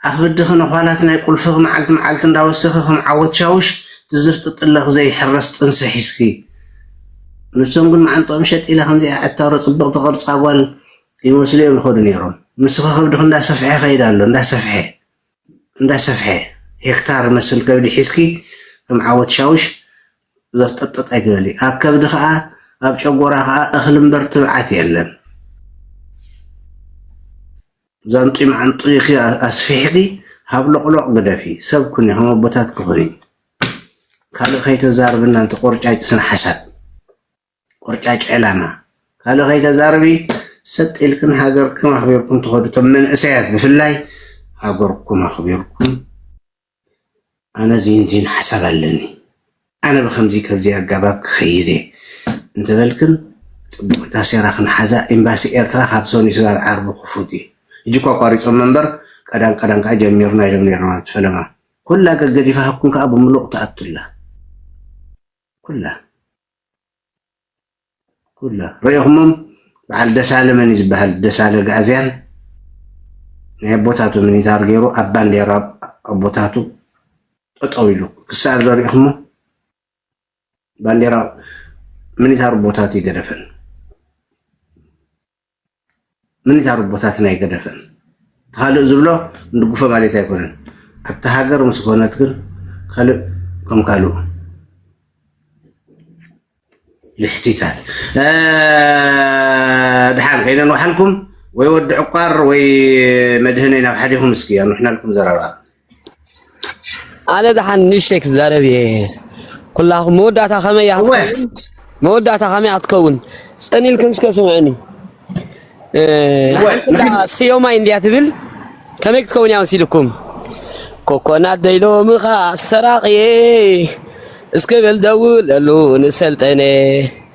ኣኽብድኺ ነዃላት ናይ ቁልፍኺ መዓልቲ መዓልቲ እንዳወሰኺ ከም ዓወት ሻውሽ ትዝርጥጥለኺ ዘይሕረስ ጥንሲ ሒዝኪ ንሶም ግን መዓንጥኦም ሸጥ ኢላ ከምዚኣ ዕታሮ ጽብቕቲ ቅርጻ ጓል ይመስሉ እዮም ዝኸዱ ነይሮም። ንስኺ ከብድኺ እንዳሰፍሐ ይኸይድ ኣሎ፣ እንዳሰፍሐ፣ እንዳሰፍሐ፣ ሄክታር መስል ከብዲ ሒዝኪ ከም ዓወት ሻውሽ ዘፍጠጥጠጥ ኣይትበሊ። ኣብ ከብዲ ከኣ ኣብ ጨጎራ ከኣ እኽሊ እምበር ትብዓት የለን። ዛንጡይ መዓንጡይኪ ኣስፊሕኪ ሃብሎቕሎቕ ግደፊ፣ ሰብ ኩኒ፣ ከም ኣቦታትኪ ኩኒ። ካልእ ከይተዛርብና ኣንቲ ቆርጫጭ ስነ ሓሳብ። ቆርጫጭ ዔላማ ካልእ ከይተዛርቢ ሰጥ ኢልክን ሃገርክን ኣክቢርኩም ትከዱ እቶም መንእሰያት ብፍላይ ሃገርኩም ኣክቢርኩም ኣነ ዚን ዚን ሓሳብ ኣለኒ ኣነ ብከምዚ ከብዚ ኣጋባብ ክከይድ እየ እንተበልክን ጽቡቅ ታሴራ ክንሓዛ ኤምባሲ ኤርትራ ካብ ሰኑይ ስጋብ ዓርቢ ክፉት እዩ ሕጂ እኮ ኣቋሪጾም መንበር ቀዳም ቀዳም ከኣ ጀሚርና ኢሎም ነይሮም ኣብቲ ፈለማ ኩላ ገገዲፋኩም ከኣ ብምሉቅ ትኣቱላ ኩላ ኩላ ረኢኹሞም በዓል ደሳለ መን እዩ ዝበሃል ደሳለ ጋእዝያን ናይ ኣቦታቱ ሚኒታር ገይሩ ኣብ ባንዴራ ኣቦታቱ ጠጠው ኢሉ ክስኣል ዶ ሪኢኹሞ ባንዴራ ሚኒታር ኣቦታቱ ይገደፈን። ምን እታ ሩቦታትና ኣይገደፈን እቲ ካልእ ዝብሎ ንድጉፎ ማሌት ኣይኮነን ኣብቲ ሃገር ምስ ኮነት ግን ካልእ ከም ካልኡ ልሕቲታት ድሓን ከይነን ወሓልኩም ወይ ወዲ ዕቋር ወይ መድህነይ ናብ ሓዲኹም እስኪ ኣንውሕናልኩም ዘረባ ኣነ ደሓን ንእሽተይ ክዛረብ እየ ኩላኹም መወዳእታ ከመይ እያ ክትከውን መወዳእታ ከመይ እያ ክትከውን ፅን ኢልኩም እስከ ስምዑኒ ስዮማይ እንድያ ትብል ከመይ ክትከውን እያ መሲልኩም ኮኮናት ደይሎምኻ ሰራቂ እየ እስከ በል ደውለሉ ንሰልጠነ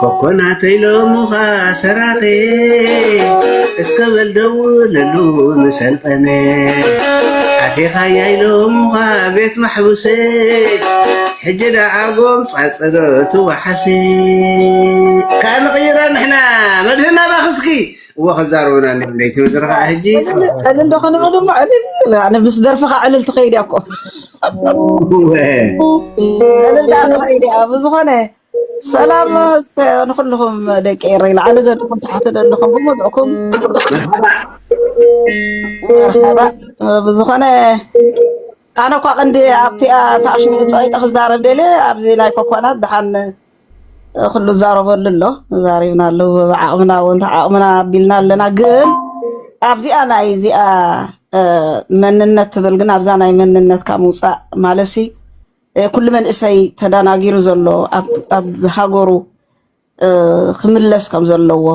ኮኮናት ኢሎሙኻ ሰራቂ እስከ በል ደውለሉ ንሰልጠነ ኣቴኻያ ኢሎሙኻ ቤት ማሕቡሰ ሕጂ ደኣ ጎምጻጽሮ ትወሓሰ ካኣ ንቕይራ ንሕና መድህና ባኽስኪ እዎ ከዛርቡና እኒኦም ለይቲ ምድሪ ከዓ ሕጂ ዕልል ዶ ክንብል እሞ ዕልል ኣነ ምስ ደርፍኻ ዕልል ትኸይድ እያ እኮ እልልታ ፍቅሪ ድያ ብዝኾነ ሰላም እስከ ንኩልኹም ደቂ ኤረይ ላዕሊ ዘለኹም ታሕቲ ዘለኹም ብምሉእኩም መርሓባ ብዝኾነ ኣነ እኳ ቅንዲ ኣብቲኣ ታሽሙ ፀቂጠ ክዛረብ ደልየ ኣብዚ ናይ ኮኳናት ድሓን ኩሉ ዛረበሉ ኣሎ ዛሪብና ኣሎ ብዓቕምና እውን ተዓቕምና ኣቢልና ኣለና ግን ኣብዚኣ ናይ እዚኣ መንነት ትብል ግን ኣብዛ ናይ መንነትካ ምውፃእ ማለት ሲ ኩሉ መንእሰይ ተደናጊሩ ዘሎ ኣብ ሃገሩ ክምለስ ከም ዘለዎ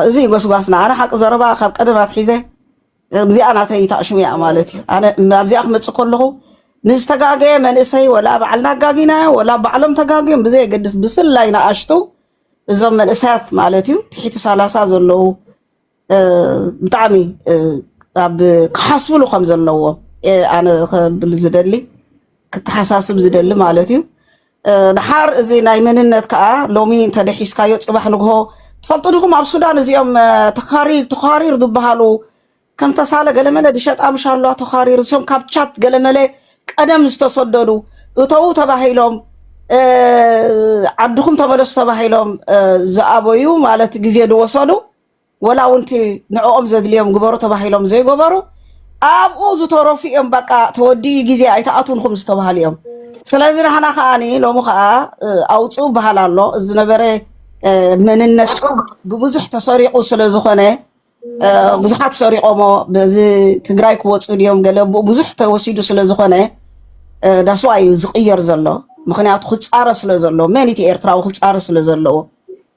እዚ ጎስጓስና ኣነ ሓቂ ዘረባ ካብ ቀደም ኣትሒዘ እዚኣ ናተይ እታ ሽሙ እያ ማለት እዩ። ኣነ ኣብዚኣ ክመፅእ ከለኹ ንዝተጋገየ መንእሰይ ወላ ባዕልና ኣጋጊናዮ ወላ ባዕሎም ተጋግዮም ብዘየገድስ ብፍላይ ንኣሽቱ እዞም መንእሰያት ማለት እዩ ትሒቲ ሰላሳ ዘለዉ እ፣ ብጣዕሚ እ፣ ኣብ ክሓስብሉ ከም ዘለዎ እ፣ ኣነ ከብል ዝደሊ ክተሓሳስብ ዝደሊ ማለት እዩ። ድሓር እዚ ናይ መንነት ከዓ ሎሚ እንተደሒስካዮ ፅባሕ ንግሆ ትፈልጡ ድኹም ኣብ ሱዳን እዚኦም ተኻሪር ተኻሪር ዝበሃሉ ከም ተሳለ ገለመለ ድሸጣ ምሻሏ ተኻሪር እዚኦም ካብ ቻት ገለመለ ቀደም ዝተሰደዱ እተዉ ተባሂሎም ዓድኹም ተመለሱ ተባሂሎም ዝኣበዩ ማለት ግዜ ዝወሰዱ ወላ እውን እቲ ንዕኦም ዘድልዮም ግበሩ ተባሂሎም ዘይገበሩ ኣብኡ ዝተረፉ እዮም በቃ ተወዲኡ ግዜ ኣይትኣትውንኩም ዝተባሃሉ እዮም ስለዚ ናህና ከዓ ሎሚ ከዓ ኣውፅኡ በሃል ኣሎ እዚ ነበረ መንነት ብብዙሕ ተሰሪቑ ስለ ዝኾነ ብዙሓት ሰሪቆሞ በዚ ትግራይ ክወፁ ድዮም ገለ ብኡ ብዙሕ ተወሲዱ ስለ ዝኾነ ዳስዋ እዩ ዝቕየር ዘሎ ምክንያቱ ክፃረ ስለ ዘሎ መን እቲ ኤርትራዊ ክፃረ ስለ ዘለዎ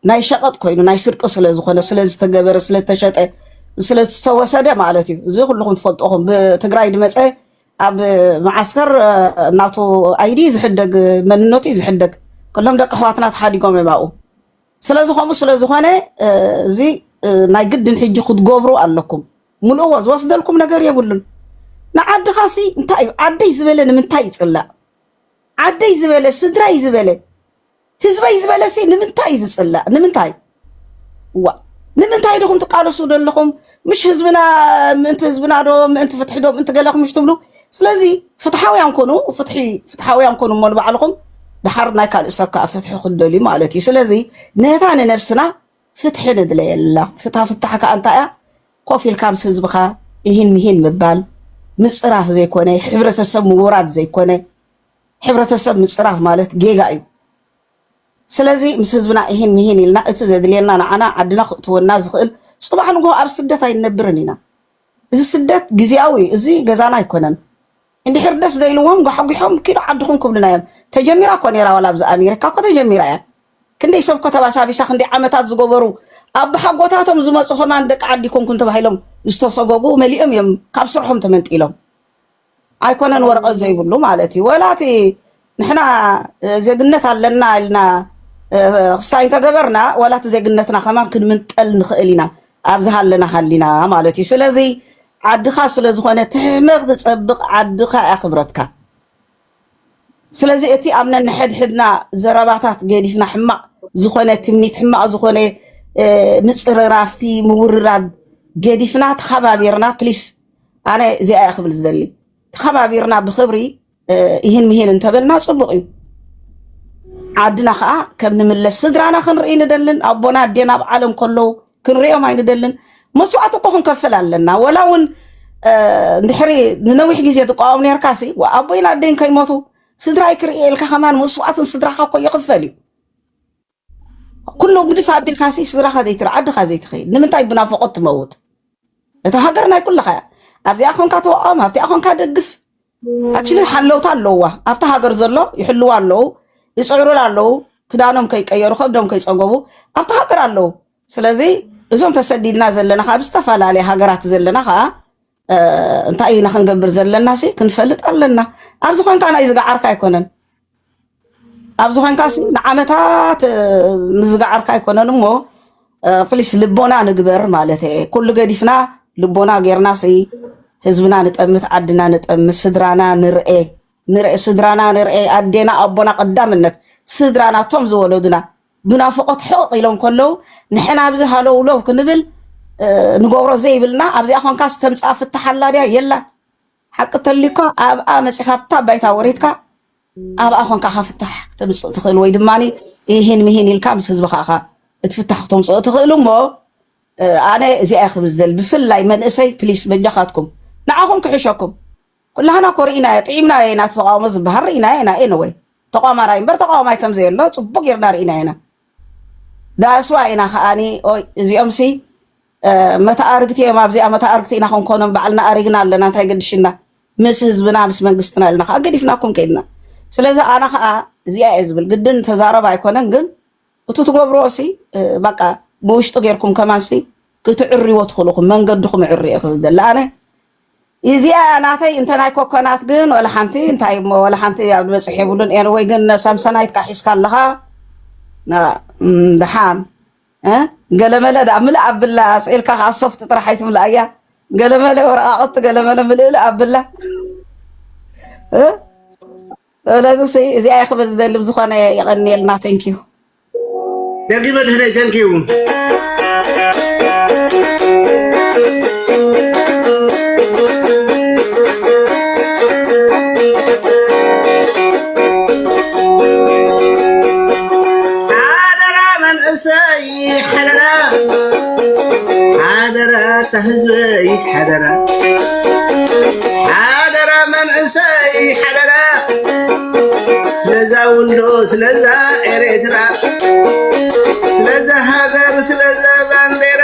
ናይ ሸቐጥ ኮይኑ ናይ ስርቂ ስለ ዝኾነ ስለ ዝተገበረ ስለ ዝተሸጠ ስለ ዝተወሰደ ማለት እዩ እዚ ኩልኹም ትፈልጦኹም ብትግራይ ድመፀ ኣብ መዓስከር እናቱ ኣይዲ ዝሕደግ መንነቱ እዩ ዝሕደግ ኩሎም ደቂ ኣሕዋትና ተሓዲጎም እዮም ኣብኡ ስለዚ ከምኡ ስለ ዝኾነ እዚ ናይ ግድን ሕጂ ክትገብሩ ኣለኩም ሙሉእዎ ዝወስደልኩም ነገር የብሉን ንዓድኻሲ እንታይ እዩ ዓደይ ዝበለ ንምንታይ ይፅላእ ዓደይ ዝበለ ስድራይ ዝበለ ህዝበይ ዝበለሲ ንምንታይ እዩ ዝፅላእ? ንምንታይ ዋ ንምንታይ ድኹም ትቃለሱ ዘለኹም? ምሽ ህዝብና ምእንቲ ህዝብና ዶ ምእንቲ ፍትሒ ዶ ምእንቲ ገለኹም ምሽ ትብሉ? ስለዚ ፍትሓውያን ኮኑ፣ ፍትሒ ፍትሓውያን ኮኑ እሞ ንባዕልኹም ድሓር ናይ ካልእ ሰብ ከዓ ፍትሒ ክንደልዩ ማለት እዩ። ስለዚ ነታ ንነብስና ፍትሒ ንድለየላ። ፍታ ፍታሕ ከዓ እንታይ እያ? ኮፍ ኢልካ ምስ ህዝብኻ ይህን ምሂን ምባል ምፅራፍ ዘይኮነ ሕብረተሰብ ምውራድ ዘይኮነ ሕብረተሰብ ምፅራፍ ማለት ጌጋ እዩ። ስለዚ ምስ ህዝብና እሂን ምሂን ኢልና እቲ ዘድልየና ንዓና ዓድና ክእትወና ዝኽእል ፅባሕ ንግሆ ኣብ ስደት ኣይንነብርን ኢና። እዚ ስደት ግዝያዊ እዩ። እዚ ገዛና ኣይኮነን። እንድሕር ደስ ዘይልዎም ጓሕጒሖም ኪዱ ዓድኹም ክብሉና እዮም። ተጀሚራ እኮ ነይራ ዋላ ኣብዚ ኣሜሪካ እኮ ተጀሚራ እያ። ክንደይ ሰብ እኮ ተባሳቢሳ ክንደይ ዓመታት ዝገበሩ ኣቦሓጎታቶም ዝመፁ ከማን ደቂ ዓዲ ኣይኮንኩን ተባሂሎም ዝተሰጎጉ መሊኦም እዮም ካብ ስርሖም ተመንጢሎም። ኣይኮነን ወረቐት ዘይብሉ ማለት እዩ ወላ እቲ ንሕና እ፣ ዜግነት ኣለና ኢልና እ፣ ክስታይ እንተገበርና ወላ እቲ ዜግነትና ከማን ክንምንጠል ንኽእል ኢና ኣብ ዝሃለና ሃሊና ማለት እዩ ስለዚ ዓድኻ ስለ ዝኾነ ትሕመቕ ትፀብቕ ዓድኻ እያ ክብረትካ ስለዚ እቲ ኣብ ነንሕድሕድና ዘረባታት ገዲፍና ሕማቕ ዝኾነ ትምኒት ሕማቕ ዝኾነ እ፣ ምፅርራፍቲ ምውርራድ ገዲፍና ተኸባቢርና ፕሊስ ኣነ እዚኣ እያ ክብል ዝደሊ ተኸባቢርና ብክብሪ ይህን ምሂን እንተበልና ፅቡቅ እዩ ዓድና ከዓ ከም ንምለስ ስድራና ክንርኢ ንደልን ኣቦና ኣዴና ኣብ ዓለም ከለዉ ክንሪኦም ኣይንደልን መስዋእቲ እኮ ክንከፍል ኣለና ወላ እውን እንድሕሪ ንነዊሕ ግዜ ትቃወም ነርካ ሲ ኣቦይን ኣደይን ከይሞቱ ስድራይ ክርኢ ኢልካ ከማን መስዋእትን ስድራካ እኮ ይኽፈል እዩ ኩሉ ግድፍ ኣቢልካ ሲ ስድራኻ ዘይትርኢ ዓድኻ ዘይትኸይድ ንምንታይ ብናፍቖት ትመውት? እታ ሃገር ናይ ኩልኻ እያ። ኣብዚኣ ኮንካ ተዋዖም፣ ኣብቲኣ ኮንካ ደግፍ። ኣክቹሊ ሓለውታ ኣለዋ ኣብቲ ሃገር ዘሎ ይሕልዋ ኣለዉ፣ ይፅዕሩላ ኣለዉ፣ ክዳኖም ከይቀየሩ ከብዶም ከይፀገቡ ኣብቲ ሃገር ኣለዉ። ስለዚ እዞም ተሰዲድና ዘለና ካብ ዝተፈላለየ ሃገራት ዘለና ከዓ እንታይ ኢና ክንገብር ዘለና ሲ ክንፈልጥ ኣለና። ኣብዚ ኮንካ ናይ ዝገዓርካ ኣይኮነን ኣብዚ ኮንካ ንዓመታት ንዝገዓርካ ኣይኮነን እሞ ፕሊስ ልቦና ንግበር ማለት እየ። ኩሉ ገዲፍና ልቦና ጌርና ሲ ህዝብና ንጠምት፣ ዓድና ንጠምት፣ ስድራና ንርኤ ንርኤ ስድራና ንርኤ ኣዴና ኣቦና ቀዳምነት ስድራና እቶም ዝወለዱና ብናፍቖት ሕቕቕ ኢሎም ከለዉ ንሕና ኣብዚ ሃለውለው ክንብል ንገብሮ ዘይብልና ኣብዚኣ ኮንካ ዝተምፅኣ ፍታሕ ኣላ ድያ የላን ሓቂ ተልዩካ ኣብኣ መፂኻ ኣብታ ባይታ ወሪድካ ኣብኣ ኮንካ ካ ፍታሕ ክተምፅእ ትኽእል ወይ ድማ ይህን ምሂን ኢልካ ምስ ህዝብኻ ኻ እቲ ፍታሕ ክተምፅኦ ትኽእሉ እሞ ኣነ እዚኣ ክብል ዝደሊ ብፍላይ መንእሰይ ፕሊስ በጃኻትኩም ንዓኹም ክሕሸኩም ኩላህና እኮ ርኢናዮ ጥዒምናዮ ኢና እቲ ተቓውሞ ዝበሃል ርኢናዮ ኢና ኤንወይ ተቋማራይ እምበር ተቓዋማይ ከም ዘየሎ ጽቡቕ ጌርና ርኢናዮ ኢና ዳስ ዋይ ኢና ከኣኒ ኦይ እዚኦምሲ መተኣርግቲ እዮም ኣብዚኣ መተኣርግቲ ኢና ክንኮኖም ባዕልና ኣሪግና ኣለና እንታይ ገድሽና ምስ ህዝብና ምስ መንግስትና ኢልና ከዓ ገዲፍናኩም ከይድና ስለዚ ኣነ ከዓ እዚኣ እየ ዝብል ግድን ተዛረብ ኣይኮነን ግን እቲ ትገብርዎ ሲ በቃ ብውሽጢ ጌርኩም ከማን ሲ ክትዕርዎ ትኽእሉ ኢኹም መንገድኹም እዕሪ እየ ክብል ደለ ኣነ ኢዚኣ እያ ናተይ እንተ ናይ ኮኮናት ግን ወላ ሓንቲ እንታይ እሞ ወላ ሓንቲ ኣብ ዝበጽሕ የብሉን ኤን ወይ ግን ሳምሰናይትካ ሒዝካ ኣለኻ ና- እም፣ ደሓን እ? ገለመለ ድኣ ምልእ ኣብላ ስኢልካ ከዓ ሶፍት ጥራሕ ኣይትምልኣያ ገለመለ ወረቃቅቲ ገለመለ ምልእልእ ኣብላ እ? ስለዚ እዚኣ እየ ክብል ዝደሊ ብዝኾነ የቐንየልና ተንኪዩ ደጊመ ድሕረይ ተንኪዩ ሓደራ ሓደራ እታ ህዝበይ ሓደራ ሓደራ መንእሰይ ሓደራ ስለዛ ውልዶ ስለዛ ኤሬትራ ስለዛ ሃገር ስለዛ ባንዴራ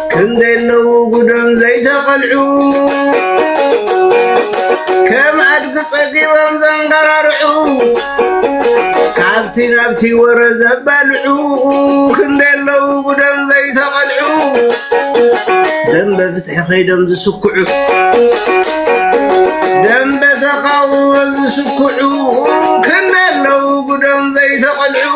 ክንደይ ኣለዉ ጉዶም ዘይተቐልዑ ከም ኣድጊ ጸጊቦም ዘንገራርዑ ካብቲ ናብቲ ወረ ዘባልዑ ክንደይ ኣለዉ ጉዶም ዘይተቐልዑ ደንበ ፍትሒ ከይዶም ዝስኩዑ ደንበ ተቃውሞ ዝስኩዑ ክንደይ ኣለዉ ጉዶም ዘይተቐልዑ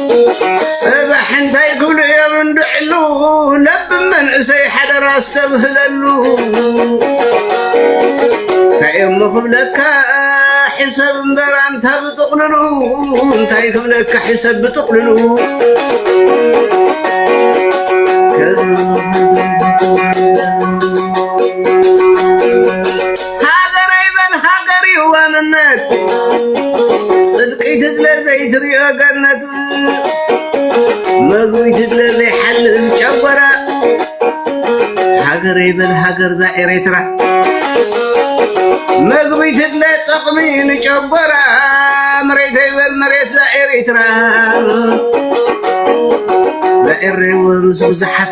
ሰባሕ እንታይ ክብሉ እዮም እንድዕሉ ለብ መንእሰይ ሓደራ ኣስተብህለሉ እንታይ እሞ ክብለካ ሕሰብ እምበር ኣንታ ብጥቕልሉ እንታይ ክብለካ ሕሰብ ብጥቕልሉ ሃገረይ በል ሃገር እዩ ዋንነት ጽድቂ ትድለ ዘይትሪኦ ገነት መግቢ ትድለ ዘይሓልፍ ጨጎራ ሃገረይ በል ሃገር ዛ ኤሬትራ መግቢ ትድለ ጥቕሚ ንጨጎራ መሬተይ በል መሬት ዛ ኤሬትራ ዛኤሬ ምስ ብዙሓት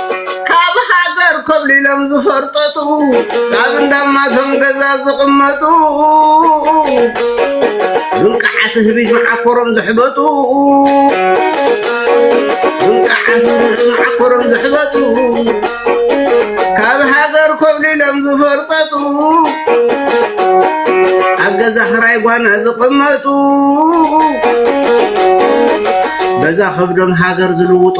ካብ ሃገር ኮብሊሎም ዝፈርጠጡ ካብ እንዳማቶም ገዛ ዝቕመጡ ዝንቃዓት ህቢ መዓኮሮም ዝሕበጡ ዝንቃዓት መዓኮሮም ዝሕበጡ ካብ ሃገር ኮብሊሎም ዝፈርጠጡ ኣብ ገዛ ክራይ ጓና ዝቕመጡ በዛ ከብዶም ሃገር ዝልውጡ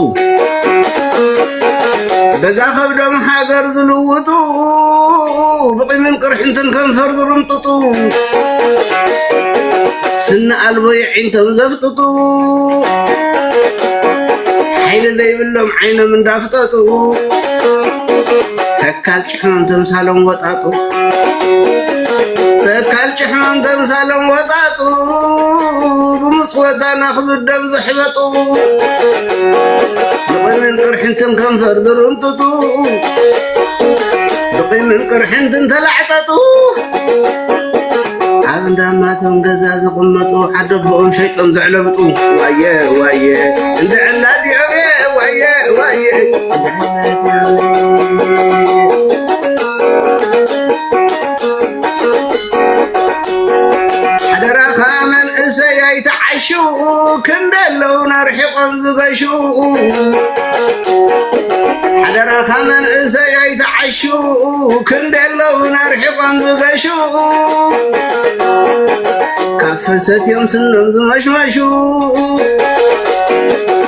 በዛ ከብዶም ሃገር ዝልውጡ ብቂምን ቅርሕንትን ከንፈር ዝርምጥጡ ስኒ ኣልቦ የዒንቶም ዘፍጥጡ ሓይሊ ዘይብሎም ዓይኖም እንዳፍጠጡ ተካል ተምሳሎም ወጣጡ ተካል ጭሕሞም ተምሳሎም ወጣጡ ብምስ ወዳና ክብደም ዝሕበጡ ብቕምን ቅርሕንትን ከንፈር ዝርንጥጡ ብቕምን ቅርሕንትን ተላዕጠጡ ኣብ እንዳማቶም ገዛ ዝቕመጡ ዓደቦኦም ሸይጦም ዘዕለብጡ ዋየ ዋየ እንድዕላዲኦም ዋየ ዋየ ሓደራኻ መንእሰይ ኣይትዓሹ ክንደለው ነርሒቆም ዝገሹ ሓደራኻ መንእሰይ ኣይትዓሹ ክንደለው ነርሒቆም ዝገሹ ካብ ፍሰት እዮም ስኖም ዝመሽመሹ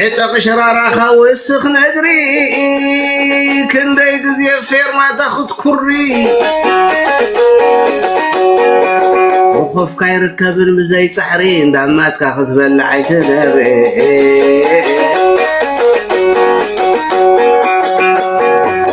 ዕጠቕ ሸራራኻ ወስኽ ነድሪ ክንደይ ግዜ ፌርማታ ክትኩሪ ወኸፍካ ይርከብን ብዘይ ፃዕሪ እንዳማትካ ክትበልዕ ኣይትደሪ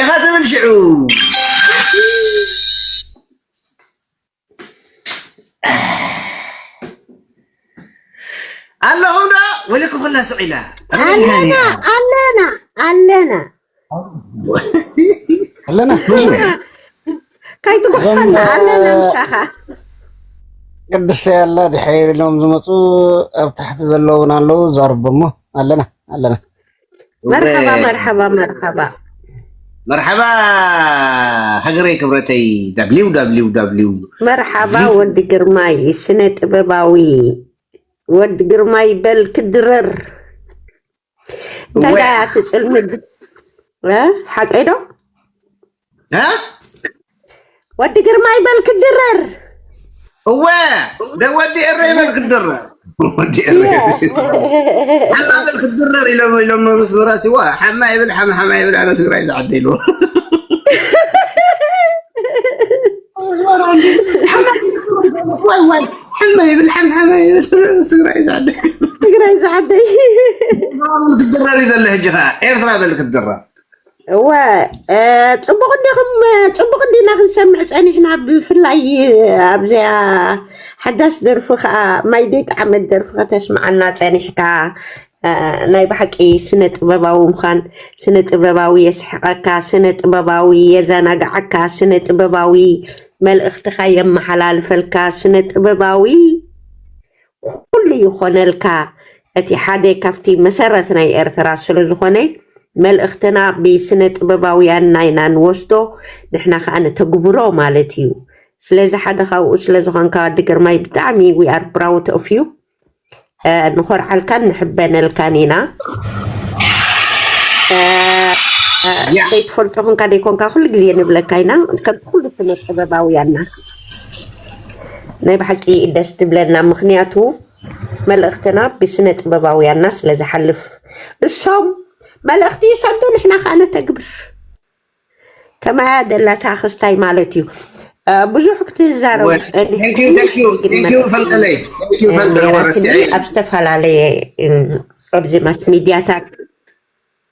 ኢኻ ትብል ሽዑ ኣለኹም ዶ ወሊኩ ኩላ ስዒላ ኣለና ኣለና ኣለና ኣለና ከይትጉሕፈና ኣለና ምሳኻ ቅድስተ ያላ ድሕሪ ኢሎም ዝመፁ ኣብ ታሕቲ ዘለውን ኣለዉ ዛርቦሞ ኣለና ኣለና መርሓባ መርሓባ መርሓባ መርሓባ ሃገረይ ክብረተይ ዳብሊው ዳብሊው ዳብሊው መርሓባ ወዲ ግርማይ ስነ ጥበባዊ ወዲ ግርማይ በል ክድረር እንታይ ዳያ ትፅልሚ ሓቀይ ዶ እ? ወዲ ግርማይ በል ክድረር እወ ደወዲ ኤረ ይበል ክድረር ወዲ ኤረ ሓማ በል ክድረር ኢሎም ኢሎም ምስ መራሲዋ ሓማ ይብል ሓማ ሓማ ይብል ኣነ ትግራይ ዝዓደ ኢሉ ዋይ ዋይ ሓማ ይብል ሓም ሓማ ይብል ትግራይ ዝዓደ ትግራይ ዝዓደይ ክድረር እዩ ዘሎ ሕጂ ከዓ ኤርትራ በል ክድረር እወ እ፣ ፅቡቕ እንዲኹም እ፣ ፅቡቕ እንዲና ክንሰምዕ ፀኒሕና ብፍላይ እ፣ ኣብዚኣ ሓዳስ ደርፊ ከዓ ማይ ዘይጠዓመት ደርፊ ከተስምዓና ፀኒሕካ እ፣ ናይ ብሓቂ ስነ ጥበባዊ ምዃን ስነ ጥበባዊ የስሕቐካ ስነ ጥበባዊ የዘናግዓካ ስነ ጥበባዊ መልእኽትኻ የመሓላልፈልካ ስነ ጥበባዊ ኩሉ ይኾነልካ እቲ ሓደ ካብቲ መሰረት ናይ ኤርትራ ስለዝኾነ መልእኽትና ብስነጥበባውያን ናይና ንወስዶ ንሕና ከኣ ንተግብሮ ማለት እዩ ስለዚ ሓደ ካብኡ ስለዝኾንካ ወዲ ግርማይ ብጣዕሚ we are proud of you ንኾርዓልካን ንሕበነልካን ኢና ዘይትፈልጦ ኮንካ ዘይኮንካ ኩሉ ግዜ ንብለካ ኢና ከምቲ ኩሉ ስነጥበባውያንና ናይ ብሓቂ ደስ ትብለና ምክንያቱ መልእክትና ብስነ ጥበባውያና ስለ ዝሓልፍ እሶም መልእክቲ ይሰዱ ንሕና ከኣ ነተግብር ከማያ ደላታ ክስታይ ማለት እዩ ብዙሕ ክትዛረቡ ኣብ ዝተፈላለየ ኣብዚ ማስ ሚድያታት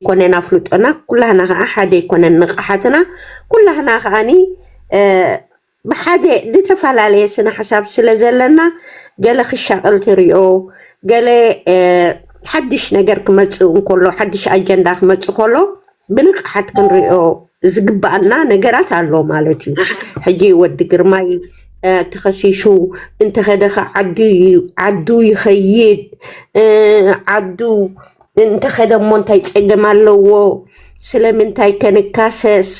ኣይኮነን ኣፍልጦና ኩላህና ከኣ ሓደ ኣይኮነን ንቕሓትና ኩላህና ከኣኒ ብሓደ ድተፈላለየ ስነ ሓሳብ ስለ ዘለና ገለ ክሻቕል ትሪኦ ገለ ሓድሽ ነገር ክመጽእ እንከሎ ሓድሽ ኣጀንዳ ክመጽእ ከሎ ብንቕሓት ክንሪኦ ዝግባኣና ነገራት ኣሎ ማለት እዩ ሕጂ ወዲ ግርማይ ተኸሲሱ እንተኸደኸ ዓዱ ይኸይድ ዓዱ እንተኸደ እሞ እንታይ ጸገም ኣለዎ? ስለምንታይ ከ ንካሰስ?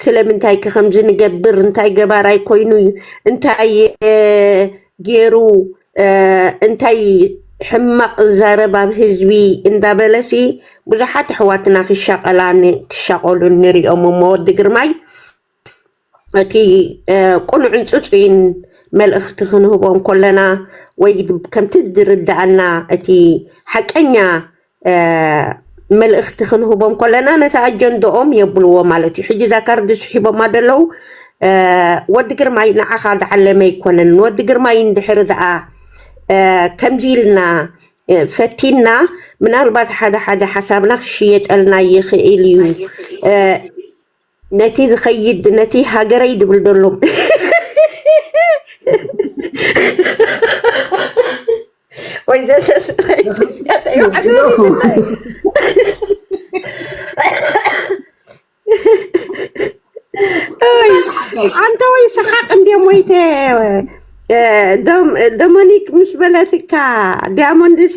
ስለምንታይ ከ ከምዚ ንገብር? እንታይ ገባራይ ኮይኑ እዩ? እንታይ ገይሩ? እንታይ ሕማቕ ዛረብ ኣብ ህዝቢ እንዳበለሲ ብዙሓት ኣሕዋትና ክሻቐላን ክሻቐሉን ንሪኦም እሞ ወዲ ግርማይ እቲ ቅኑዕን ጽጹይን መልእኽቲ ክንህቦ እንኮለና ወይ ከምቲ ዝርድኣና እቲ ሓቀኛ መልእኽቲ ክንህቦ እንኮለና ነቲ ኣጀንድኦም የብልዎ ማለት እዩ። ሕጂ እዛ ካርዲ ስሒቦማ ደለዉ ወዲ ግርማይ ንዓኻ ዝዓለመ ኣይኮነን ንወዲ ግርማይ እንድሕሪ ደኣ ከምዚ ኢልና ፈቲንና ምናልባት ሓደ ሓደ ሓሳብና ክሽየጠልና ይኽእል እዩ። ነቲ ዝከይድ ነቲ ሃገረይ ድብል ደሎ ወይ ዘሰስናይ ኣንተ ወይ ሰሓቅ እንደ ሞይተ ዶሞኒክ ምስ በለትካ ዲያሞንድሲ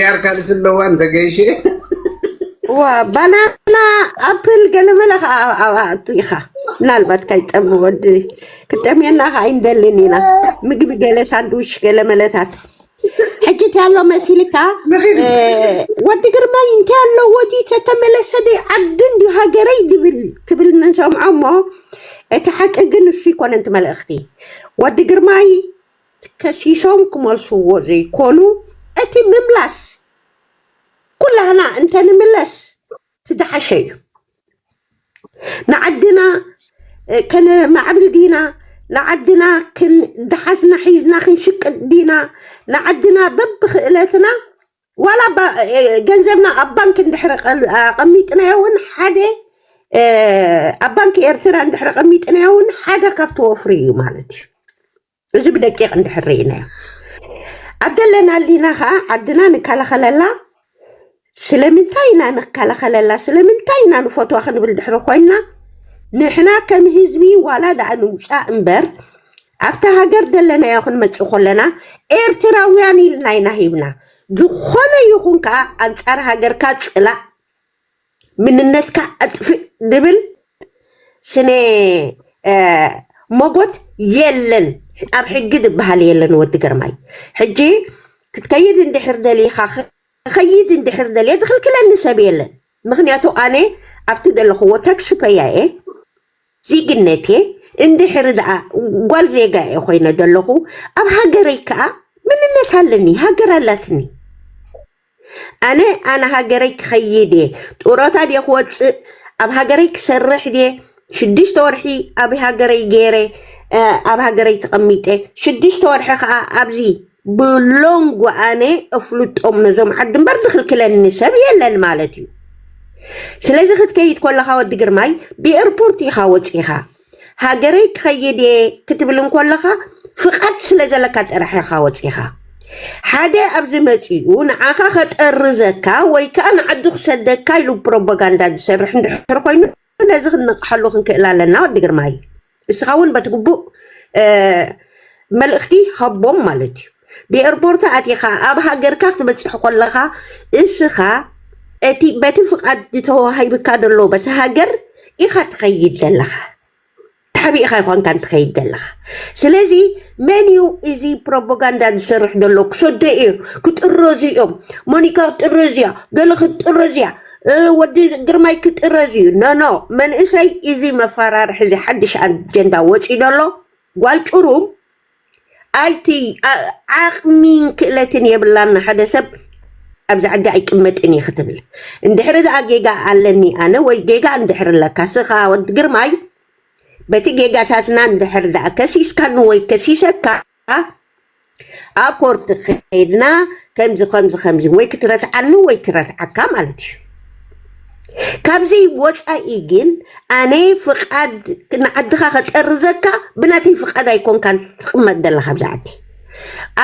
ያር ካልሲ ኣለዋ እንተገይሸ እዋ ባናና ኣፕል ገለመለ ከዓ ኣብኣቱ ኢኻ ምናልባት ካይጠሚ ወዲ ክጠምየና ከዓ ኣይንደልን ኢና ምግቢ ገለ ሳንድዊች ገለ መለታት ሕጂ እንታይ ኣሎ መሲልካ ንኺድ እ፣ ወዲ ግርማይ እንታይ ኣለዎ ድዩ ተተመለሰ ድዩ ዓዲ እንድዩ ሃገረይ ድብል ትብል ንሰምዖ እሞ እቲ ሓቂ ግን እሱ ይኮነን እቲ መልእኽቲ ወዲ ግርማይ ከሲሶም ክመልስዎ ዘይኮኑ እቲ ምምላስ ኩላህና እንተንምለስ ትደሓሸ እዩ ንዓድና ከነማዕብል ዲና ንዓድና ክንደሓስና ሒዝና ክንሽቅጥ ዲና ንዓድና በብክእለትና ዋላ ገንዘብና ኣብ ባንክ እንድሕሪ ኣቐሚጥናዮ እውን ሓደ ኣብ ባንክ ኤርትራ እንድሕሪ ኣቐሚጥናዮ እውን ሓደ ካብቲ ወፍሪ እዩ ማለት እዩ እዚ ብደቂቕ እንድሕር ርኢናዮ ኣብ ደለናሊና ከኣ ዓድና ንከላኸለላ ስለምንታይ ኢና ንከላኸለላ ስለምንታይ ኢና ንፈትዋ ክንብል ድሕሪ ኮይንና ንሕና ከም ህዝቢ ዋላ ደኣ ንውጻእ እምበር ኣብታ ሃገር ደለናዮ ክንመጽእ ኮለና ኤርትራውያን ኢልና ኢና ሂብና ዝኾነ ይኹን ከኣ ኣንጻር ሃገርካ ጽላእ ምንነትካ ኣጥፍእ ድብል ስነ ሞጎት የለን ኣብ ሕጊ ድበሃል የለን ወዲ ግርማይ ሕጂ ክትከይድ እንድሕር ደሊካ ክከይድ እንድሕር ደልየ ዝክልክለኒ ሰብ የለን ምክንያቱ ኣነ ኣብቲ ዘለክዎ ታክሲ ፐያ እየ ዜግነት እየ እንድሕር ደኣ ጓል ዜጋ እየ ኮይነ ዘለኩ ኣብ ሃገረይ ከዓ ምንነት ኣለኒ ሃገር ኣላትኒ ኣነ ኣነ ሃገረይ ክኸይድ እየ ጡረታ ድየ ክወፅእ ኣብ ሃገረይ ክሰርሕ ድየ ሽዱሽተ ወርሒ ኣብ ሃገረይ ገይረ እ፣ ኣብ ሃገረይ ተቐሚጠ ሽዱሽተ ወርሒ ከዓ ኣብዚ ብሎንጎ ኣነ እፍልጦም ነዞም ዓዲ እምበር ዝኽልክለኒ ሰብ የለን ማለት እዩ ስለዚ ክትከይድ ኮለኻ ወዲ ግርማይ ብኤርፖርት ኢኻ ወፂኻ ሃገረይ ክኸይድ እየ ክትብል እንኮለኻ ፍቓድ ስለ ዘለካ ጥራሕ ኢኻ ወጺኻ ሓደ ኣብዚ መጺኡ ንዓኻ ከጠርዘካ ወይ ከኣ ንዓዱ ክሰደካ ኢሉ ፕሮፓጋንዳ ዝሰርሕ እንድሕር ኮይኑ ነዚ ክንነቕሓሉ ክንክእል ኣለና ወዲ ግርማይ እስኻ እውን በቲ ግቡእ እ፣ መልእኽቲ ሃቦም ማለት እዩ ብኤርፖርት ኣቲኻ ኣብ ሃገርካ ክትበጽሕ ኮለኻ እስኻ እቲ በቲ ፍቃድ ተዋሂብካ ዘሎ በቲ ሃገር ኢኻ ትኸይድ ዘለኻ ተሓቢእኻ ኣይኮንካን ትኸይድ ዘለኻ ስለዚ መን እዩ እዚ ፕሮፓጋንዳ ዝሰርሕ ዘሎ ክሰዶ እዩ ክጥረዙ እዮም ሞኒካ ክትጥረዝ እያ ገለ ክትጥረዝ እያ ወዲ ግርማይ ክጥረዝ እዩ ኖኖ መንእሰይ እዚ መፈራርሒ እዚ ሓድሽ ኣጀንዳ ወፂኡ ዘሎ ጓል ጩሩም ኣቲ ዓቅሚን ክእለትን የብላን ንሓደ ሰብ ኣብዚ ዓዲ ኣይቅመጥን እየ ክትብል እንድሕሪ ድኣ ጌጋ ኣለኒ ኣነ ወይ ጌጋ እንድሕሪ ኣለካ ስኻ ወዲ ግርማይ በቲ ጌጋታትና እንድሕሪ ድኣ ከሲስካኒ ወይ ከሲሰካ ኣብ ኮርት ከይድና ከምዚ ከምዚ ከምዚ ወይ ክትረትዓኒ ወይ ክረትዓካ ማለት እዩ ካብዚ ወፃኢ ግን ኣነ ፍቃድ ንዓድኻ ከጠርዘካ ብናተይ ፍቃድ ኣይኮንካን ትቕመጥ ዘለኻ ኣብዚ ዓዲ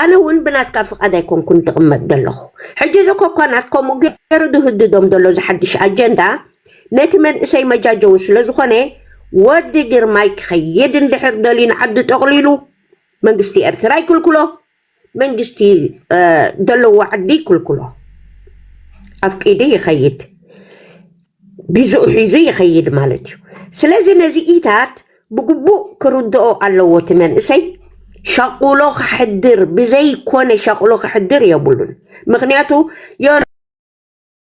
ኣነ እውን ብናትካ ፍቃድ ኣይኮንኩን ትቕመጥ ዘለኹ ሕጂ እዚ ኮኳናት ከምኡ ገይሩ ዝህድዶም ዘሎ እዚ ሓድሽ ኣጀንዳ ነቲ መንእሰይ መጃጀዊ ስለ ዝኾነ ወዲ ግርማይ ክኸይድ እንድሕር ደልዩ ንዓዲ ጠቕሊሉ መንግስቲ ኤርትራ ይክልክሎ መንግስቲ ደለዎ ዓዲ ይክልክሎ ኣፍቂዱ ይከይድ ቢዝኡ ሒዙ ይከይድ ማለት እዩ ስለዚ ነዚ ኢታት ብግቡእ ክርድኦ ኣለዎ እቲ መንእሰይ ሸቁሎ ክሕድር ብዘይኮነ ሸቁሎ ክሕድር የብሉን ምክንያቱ